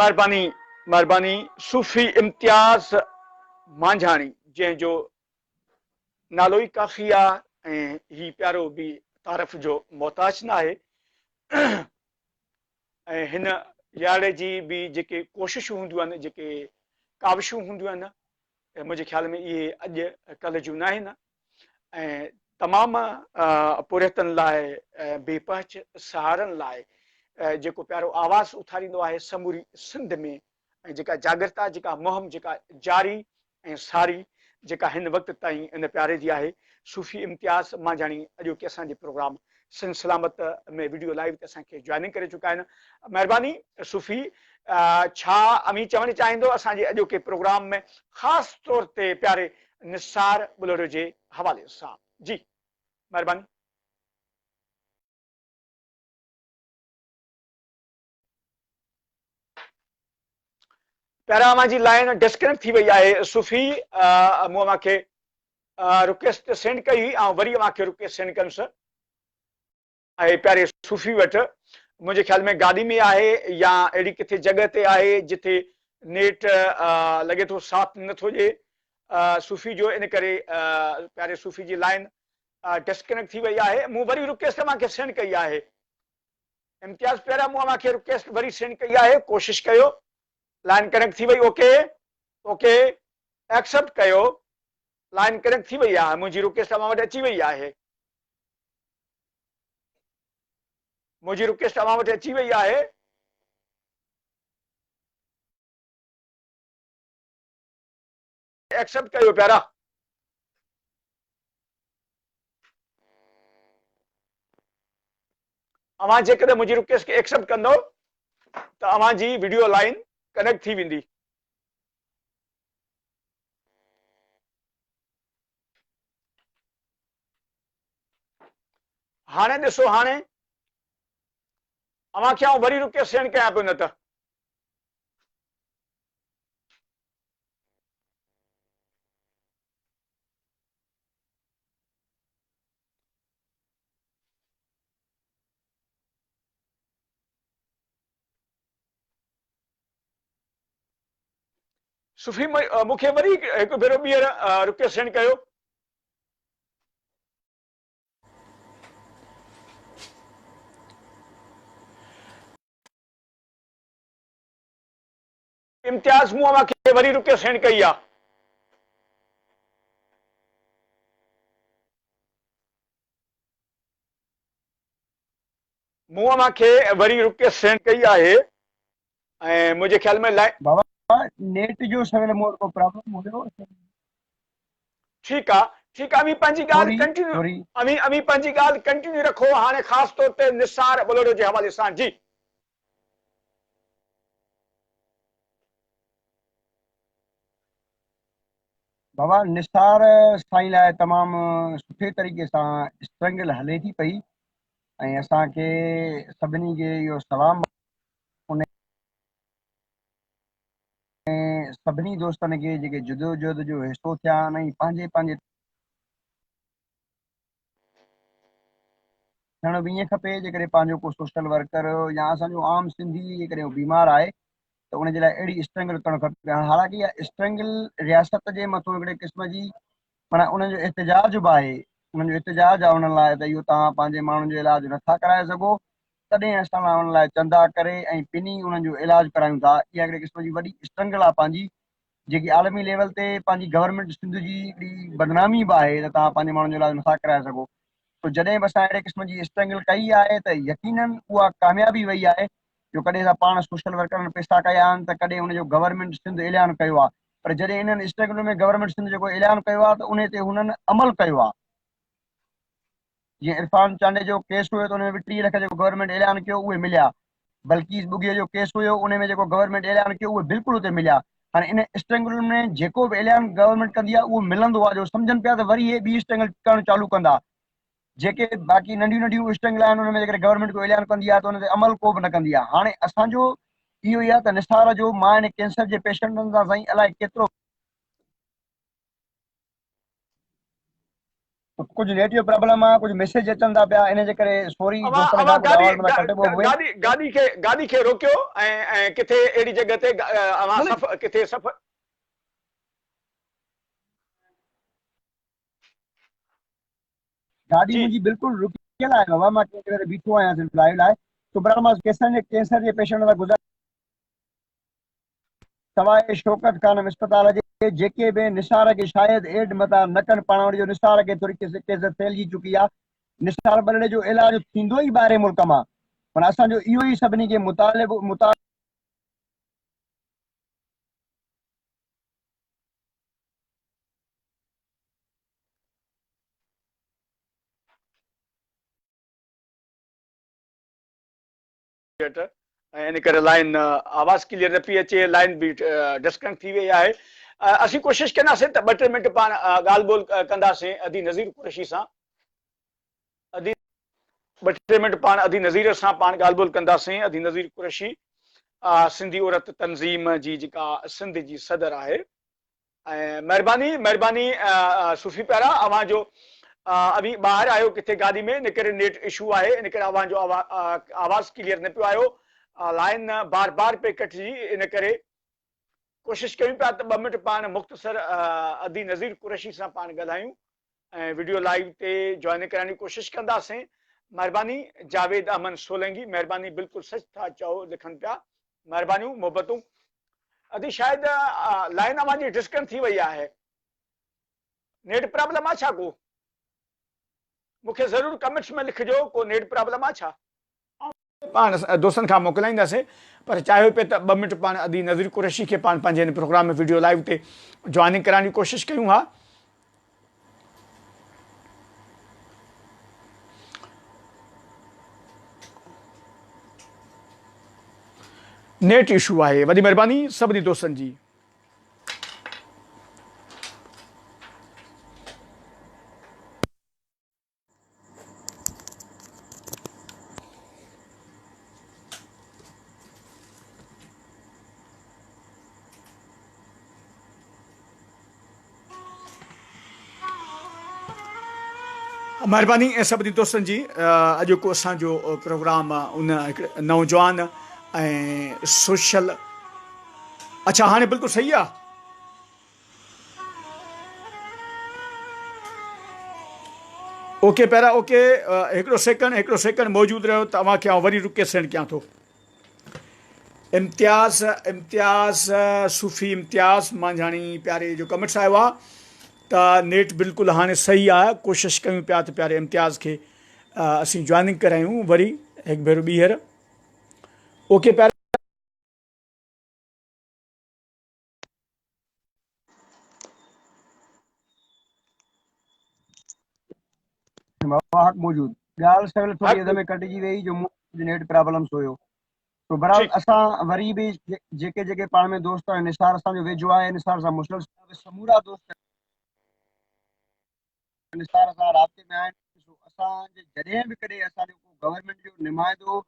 مھرباني مھرباني صوفي امتياز مانجھاڻي جنهن جو نالو ئي ڪافي آ ۽ هي پيارو به تعارف جو محتاج نه آهي ۽ هن لياڙي جي به جيڪي ڪوششون هونديون آهن جيڪي ڪاوشون هونديون آهن منهنجي خيال ۾ اهي اڄ ڪلھ جون ناهن ۽ تمام پورهيتن لاء ۽ بي پهچ سهارن لاء جيڪو پيارو آواز اٿاريندو آهي سموري سنڌ ۾ ۽ جيڪا جاڳرتا جيڪا مهم جيڪا جاري ۽ ساري جيڪا هن وقت تائين ان پياري جي آهي صوفي امتياز مانجهاڻي اڄوڪي اسان جي program Sindh Salamat ۾ video live تي اسان کي جوائننگ ڪري چڪا آهن مهرباني صوفي ڇا اوهين چوڻ چاهيندو اسان جي اڄوڪي پروگرام ۾ خاص طور تي پياري نثار ٻلهڙو جي حوالي سان جي مهرباني. پيارا اوهان جي لائن ڊسڪنيڪٽ ٿي وئي آهي صوفي مون اوهان کي رڪويسٽ سينڊ ڪئي هئي آئون وري اوهان کي رڪويسٽ سينڊ ڪندس اي پياري صوفي وٽ منهنجي خيال ۾ گاڏي ۾ آهي يا اهڙي ڪٿي جڳهه تي آهي جتي نيٽ لڳي ٿو ساٿ نٿو ڏي صوفي جو ان ڪري پياري صوفي جي لائن ڊسڪنيڪٽ ٿي وئي آهي مون وري رڪويسٽ اوهان کي سينڊ ڪئي آهي امتياز پيارا مون اوهان کي رڪيسٽ وري سينڊ ڪئي آهي ڪوشش ڪيو لائن ڪنيڪٽ ٿي وئي اوڪي اوڪي ايڪسپٽ ڪيو لائن ڪنيڪٽ ٿي وئي آهي منهنجي رڪيسٽ اوهان وٽ اچي وئي آهي منهنجي رڪيسٽ اوهان وٽ اچي وئي آهي ايڪسيپٽ ڪيو پيارا. اوهان جيڪڏهن منهنجي رڪويسٽ کي ايڪسيپٽ ڪندؤ ته اوهان جي وڊيو لائن ڪنيڪٽ ٿي ويندي. هاڻي ڏسو هاڻي اوهان کي آئون وري رڪويسٽ سينڊ ڪيان پيو نه ته. صفي مون کي وري هڪ ڀيرو ٻيهر رڪيو سينڊ ڪيو امتياز مون اوهان کي وري روپيو سينڊ ڪئي آ. مون اوهان کي وري روپيو سينڊ ڪئي آهي ۽ منهنجي خيال ۾ لائن. بابا نيٽ جو سويل مور ڪو پرابلم هيو. ٺيڪ آ ٺيڪ آ اوهين پنهنجي ڳالهه ڪنٽينيو اوهين اوهين پنهنجي ڳالهه ڪنٽينيو رکو هاڻي خاص طور تي نثار ٻلهڙو جي حوالي سان جي. بابا نثار سائين لاء تمام سٺي طريقي سان اسٽرنگل هلي ٿي پئي ۽ اسان کي سڀني کي اهو سلام ان سڀني دوستن کي جيڪي جدوجهد جو حصو ٿيا آهن ۽ پنهنجي پنهنجي ٿيڻ به ائين کپي جيڪڏهن پنهنجو ڪو سوشل ورڪر يا اسان جو عام سنڌي جيڪڏهن بيمار آهي ته ان جي لاء اهڙي اسٽرنگل ڪرڻ کپي هاڻ حالانڪه اها اسٽرنگل رياست جي مٿو هڪڙي قسم جي مانا انهن جو احتجاج به آهي انهن جو احتجاج آهي انهن لاء ته اهو توهان پنهنجي ماڻهن جو علاج نٿا ڪرائي سگهو تڏهن اسان لاء ان لاء چندا ڪري ۽ پني انهن جو علاج ڪرايون ٿا اها هڪڙي قسم جي وڏي اسٽرنگل آهي پنهنجي جيڪي عالمي ليول تي پنهنجي گورنمينٽ سنڌ جي اهڙي بدنامي به آهي ته توهان پنهنجي ماڻهن جو علاج نٿا ڪرائي سگهو سو جڏهن به اسان اهڙي قسم جي اسٽرنگل ڪئي آهي ته يقينا اها ڪاميابي وئي آهي جو ڪڏهن اسان پاڻ سوشل ورڪرن پيسا ڪيا آهن ته ڪڏهن ان جو گورنمينٽ سنڌ اعلان ڪيو آهي پر جڏهن انهن اسٽرگلن ۾ گورنمينٽ سنڌ جيڪو اعلان ڪيو آهي ته انهي تي هنن عمل ڪيو آهي. جي عرفان چانڊيو جو ڪيس هيو ته ان ۾ به ٽيهه لک جيڪو گورنمينٽ اعلان ڪيو اهي مليا بلقيس ٻگهي جو ڪيس هيو ان ۾ جيڪو گورنمينٽ اعلان ڪيو اهي بلڪل اتي مليا هاڻي ان اسٽرنگل ۾ جيڪو به اعلان گورنمينٽ ڪندي آهي اهو ملندو آهي جو سمجهن پيا ته وري هي ٻي اسٽرنگل ڪرڻ چالو ڪندا جيڪي باقي ننڍيون ننڍيون اسٽرنگل آهن ان ۾ جيڪڏهن گورنمينٽ ڪو اعلان ڪندي آهي ته ان تي عمل ڪو به نه ڪندي آهي هاڻي اسان جو اهو ئي آهي ته نثار جو مان ان ڪينسر جي پيشنٽن سان سائين الائي ڪيترو ڪجهه نيٽيو پرابلم آ ڪجهه ميسيج اچن ٿا پيا ان جي ڪري سوري دوستن کان ڪو جواب نٿا ڪڍي پئي گاڏي گاڏي کي گاڏي کي روڪيو ۽ ڪٿي اهڙي جڳهه تي اوهان سفر ڪٿي سفر گاڏي منهنجي بلڪل روڪيل آهي بابا مان ڪنهن جڳهه تي بيٺو آهيان سنڌ لائيو لاء سبرال مان ڪيسن جي ڪينسر جي پيشنٽ سان گذاري سواء شوڪت خانم اسپتال جي جيڪي به نثار کي شايد ايڊ متان نه ڪن پاڻ وٽ جو نثار کي ٿوري ڪيفيت ڦهلجي چڪي آ نثار ٻرڙي جو علاج ٿيندو ئي ٻاهرين ملڪ مان پر اسان جو اهو ئي سڀني کي مطالبو ٽوئيٽر ۽ ان ڪري لائين آواز ڪليئر نه پئي اچي لائين به ڊسڪنيڪٽ ٿي وئي آهي اسين ڪوشش ڪنداسين ته ٻه ٽي منٽ پاڻ ڳالهه ٻولهه ڪنداسين ادي نظير قريشي سان ادي ٻه ٽي منٽ پاڻ ادي نظير سان پاڻ ڳالهه ٻولهه ڪنداسين ادي نظير قريشي سنڌي عورت تنظيم جي جيڪا سنڌ جي صدر آهي مھرباني مھرباني صوفي پيارا اوھان جو اوھين ٻاھر آھيو ڪٿي گاڏي ۾ ان ڪري نيٽ اشو آھي ان ڪري اوھان جو آواز ڪليئر نه پيو آيو لائين بار بار پئي ڪٽجي ان ڪري ڪوشش ڪيون پيا ته ٻه منٽ پاڻ مختصر ادي نظير قريشي سان پاڻ ڳالھايون ۽ وڊيو لائيو تي جوائن ڪرائڻ جي ڪوشش ڪنداسين مھرباني جاويد احمد سولنگي مھرباني بلڪل سچ ٿا چئو لکن پيا مھربانيون محبتون ادي شايد لائين اوھان جي ڊسڪن ٿي وئي آھي نيٽ پرابلم آ ڇا ڪو مونکي ضرور ڪمينٽس ۾ لکجو ڪو نيٽ پرابلم آ ڇا پاڻ دوستن کان موڪلائينداسين پر چاهيو پئي ته ٻه منٽ پاڻ ادي نظير قريشي کي پاڻ پنهنجي هن پروگرام ۾ وڊيو لائيو تي جوائننگ ڪرائڻ جي ڪوشش ڪيون ها نيٽ اشو آهي وڏي مهرباني سڀني دوستن جي مھرباني سڀني دوستن جي اڄوڪو اسان جو پروگرام ان نوجوان ۽ سوشل اچھا ھاڻي بلڪل صحيح آ اوڪي پيرا اوڪي هڪڙو سيڪنڊ هڪڙو سيڪنڊ موجود رهيو ته اوهان کي آئون وري رڪي سينڊ ڪيان ٿو امتياز امتياز صوفي امتياز مانجھاڻي پياري جو ڪمنٽس آيو آ ته نيٽ بلڪل هاڻي صحيح آ ڪوشش ڪيون پيا ته پياري امتياز کي اسين جوائننگ ڪرايون وري هڪ ڀيرو ٻيهر اوڪي پياري واهه موجود ڳالهه سهل ٿوري اڌ ۾ ڪٽجي وئي جو نيٽ پرابلمس هيو تو برحال ٺيڪ اسان وري به جيڪي جيڪي پاڻ ۾ دوست آهن نثار اسان جو ويجهو آهي نثار سان مسلسل سمورا دوست پاڪستان سان رابطي ۾ آهن، ڏسو اسان جي جڏهن به ڪڏهن اسان جو ڪو گورنمينٽ جو نمائندو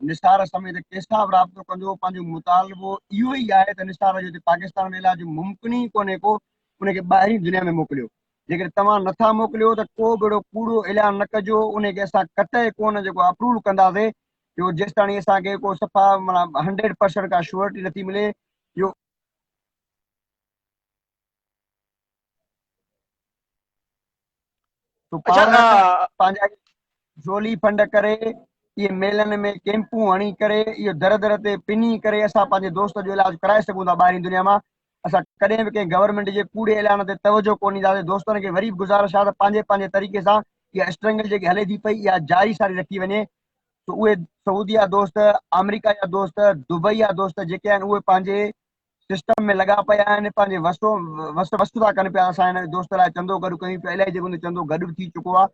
نثار سميت ڪيسان به رابطو ڪندو پنهنجو مطالبو اهو ئي آهي ته نثار جو هتي پاڪستان ۾ علاج ممڪن ئي ڪونهي ڪو ان کي ٻاهرين دنيا ۾ موڪليو جيڪڏهن توهان نٿا موڪليو ته ڪو به اهڙو ڪوڙو اعلان نه ڪجو ان کي اسان قطعي ڪونه جيڪو اپروو ڪنداسي جو جيستاڻي اسان کي ڪو صفا مطلب هنڊريڊ پرسنٽ ڪا شورٽي نٿي ملي جو تو اچھا، پاورا آ، پنهنجا جولي فنڊ ڪري اهي ميلن ۾ ڪيمپون هڻي ڪري اهو در در تي پني ڪري اسان پنهنجي دوست جو علاج ڪرائي سگهون ٿا ٻاهرين دنيا مان اسان ڪڏهن به ڪنهن گورنمينٽ جي ڪوڙي اعلان تي توجه ڪو ڏينداسين دوستن کي وري به گزارش آ ته پنهنجي پنهنجي طريقي سان اها اسٽرنگل جيڪي هلي ٿي پئي اها جاري ساري رکي وڃي ته اهي سعودي جا دوست آمريڪا جا دوست دبئي جا دوست جيڪي آهن اهي پنهنجي سسٽم ۾ لڳا پيا آهن پنهنجي وس وس وس ٿا ڪن پيا اسان هن دوست لاء چندو گڏ ڪيون پيا الائي جيڪو چندو گڏ به ٿي چڪو آهي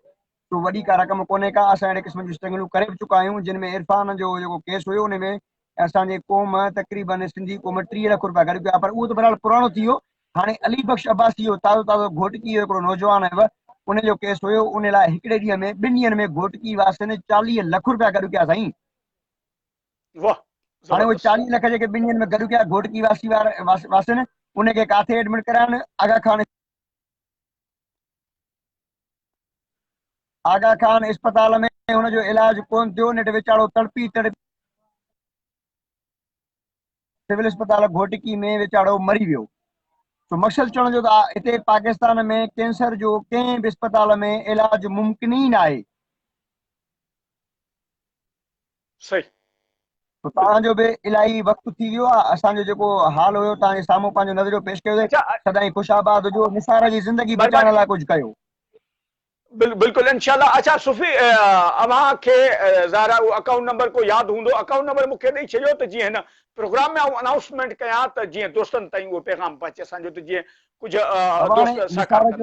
سو وڏي ڪا رقم ڪونهي ڪا اسان اهڙي قسم جون اسٽرگلون ڪري به چڪا آهيون جن ۾ عرفان جو جيڪو ڪيس هيو ان ۾ اسان جي قوم تقريبن سنڌي قوم ٽيهه لک روپيا گڏ ڪيا پر اهو ته بهرحال پراڻو ٿي ويو هاڻي علي بخش عباسي جو تازو تازو گهوٽڪي جو هڪڙو نوجوان آهيو ان جو ڪيس هيو ان لاء هڪڙي ڏينهن ۾ ٻن ڏينهن ۾ گهوٽڪي واسين چاليهه لک روپيا گڏ ڪيا سائين واه هاڻي اهي چاليهه لک جيڪي ٻن ڏينهن ۾ گڏ ڪيا گهوٽڪي واسي واسين ان کي ڪاٿي ايڊمٽ ڪرايائين آغا خان آغا خان اسپتال ۾ هن جو علاج ڪون ٿيو نيٺ ويچارو تڙپي تڙپي سول اسپتال گهوٽڪي ۾ ويچارو مري ويو سو مقصد چوڻ جو ته هتي پاڪستان ۾ ڪينسر جو ڪنهن به اسپتال ۾ علاج ممڪن ئي ناهي صحيح. توهان جو به الاهي وقت ٿي ويو آهي اسان جو جيڪو حال هيو توهان جي سامهون پنهنجو نظريو پيش ڪيو اٿئي سدائين خوش آباد هجو نثار جي زندگي بچائڻ لاء ڪجهه ڪيو. بلڪل انشاء الله اڇا صوفي اوهان کي ظاهر آهي اهو اڪائونٽ نمبر ڪو ياد هوندو اڪائونٽ نمبر مون کي ڏئي ڇڏيو ته جيئن هن پروگرام ۾ آئون انائونسمينٽ ڪيان ته جيئن دوستن تائين اهو پيغام پهچي اسان جو ته جيئن ڪجهه دوست سهڪار ڪن.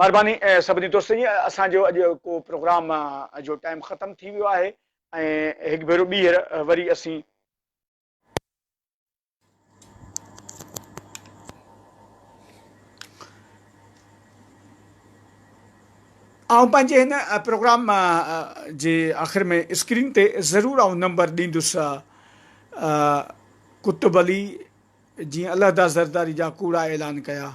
مھرباني سڀني دوستن جي اسان جو اڄ ڪو پروگرام جو ٽائيم ختم ٿي ويو آھي ۽ ھڪ ڀيرو ٻيھر وري اسين آئون پنھنجي ھن پروگرام جي آخر ۾ اسڪرين تي ضرور آئون نمبر ڏيندس ڪتب علي جيئن علحده زرداري جا ڪوڙا اعلان ڪيا.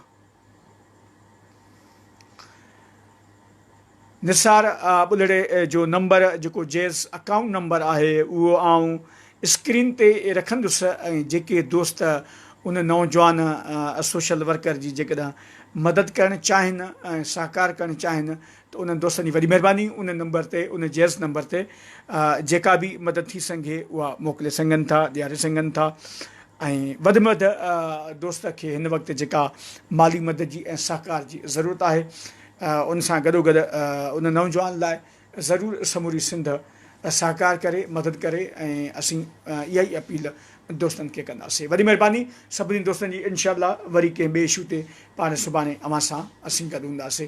نثار ٻلهڙي جو نمبر جيڪو جيس اڪائونٽ نمبر آهي اهو آئون اسڪرين تي رکندس ۽ جيڪي دوست ان نوجوان سوشل ورڪر جي جيڪڏهن مدد ڪرڻ چاهين ۽ سهڪار ڪرڻ چاهين ته انهن دوستن جي وڏي مهرباني ان نمبر تي ان جيس نمبر تي جيڪا به مدد ٿي سنگهي اها موڪلي سنگهن ٿا ڏياري سنگهن ٿا ۽ وڌ ۾ وڌ دوست کي هن وقت جيڪا مالي مدد جي ۽ سهڪار جي ضرورت آهي ان سان گڏو گڏ ان نوجوان لاء ضرور سموري سنڌ سهڪار ڪري مدد ڪري ۽ اسين اها ئي اپيل دوستن کي ڪنداسين وڏي مهرباني سڀني دوستن جي انشاء الله وري ڪنهن ٻئي اشو تي پاڻ سڀاڻي اوهان سان اسين گڏ هونداسين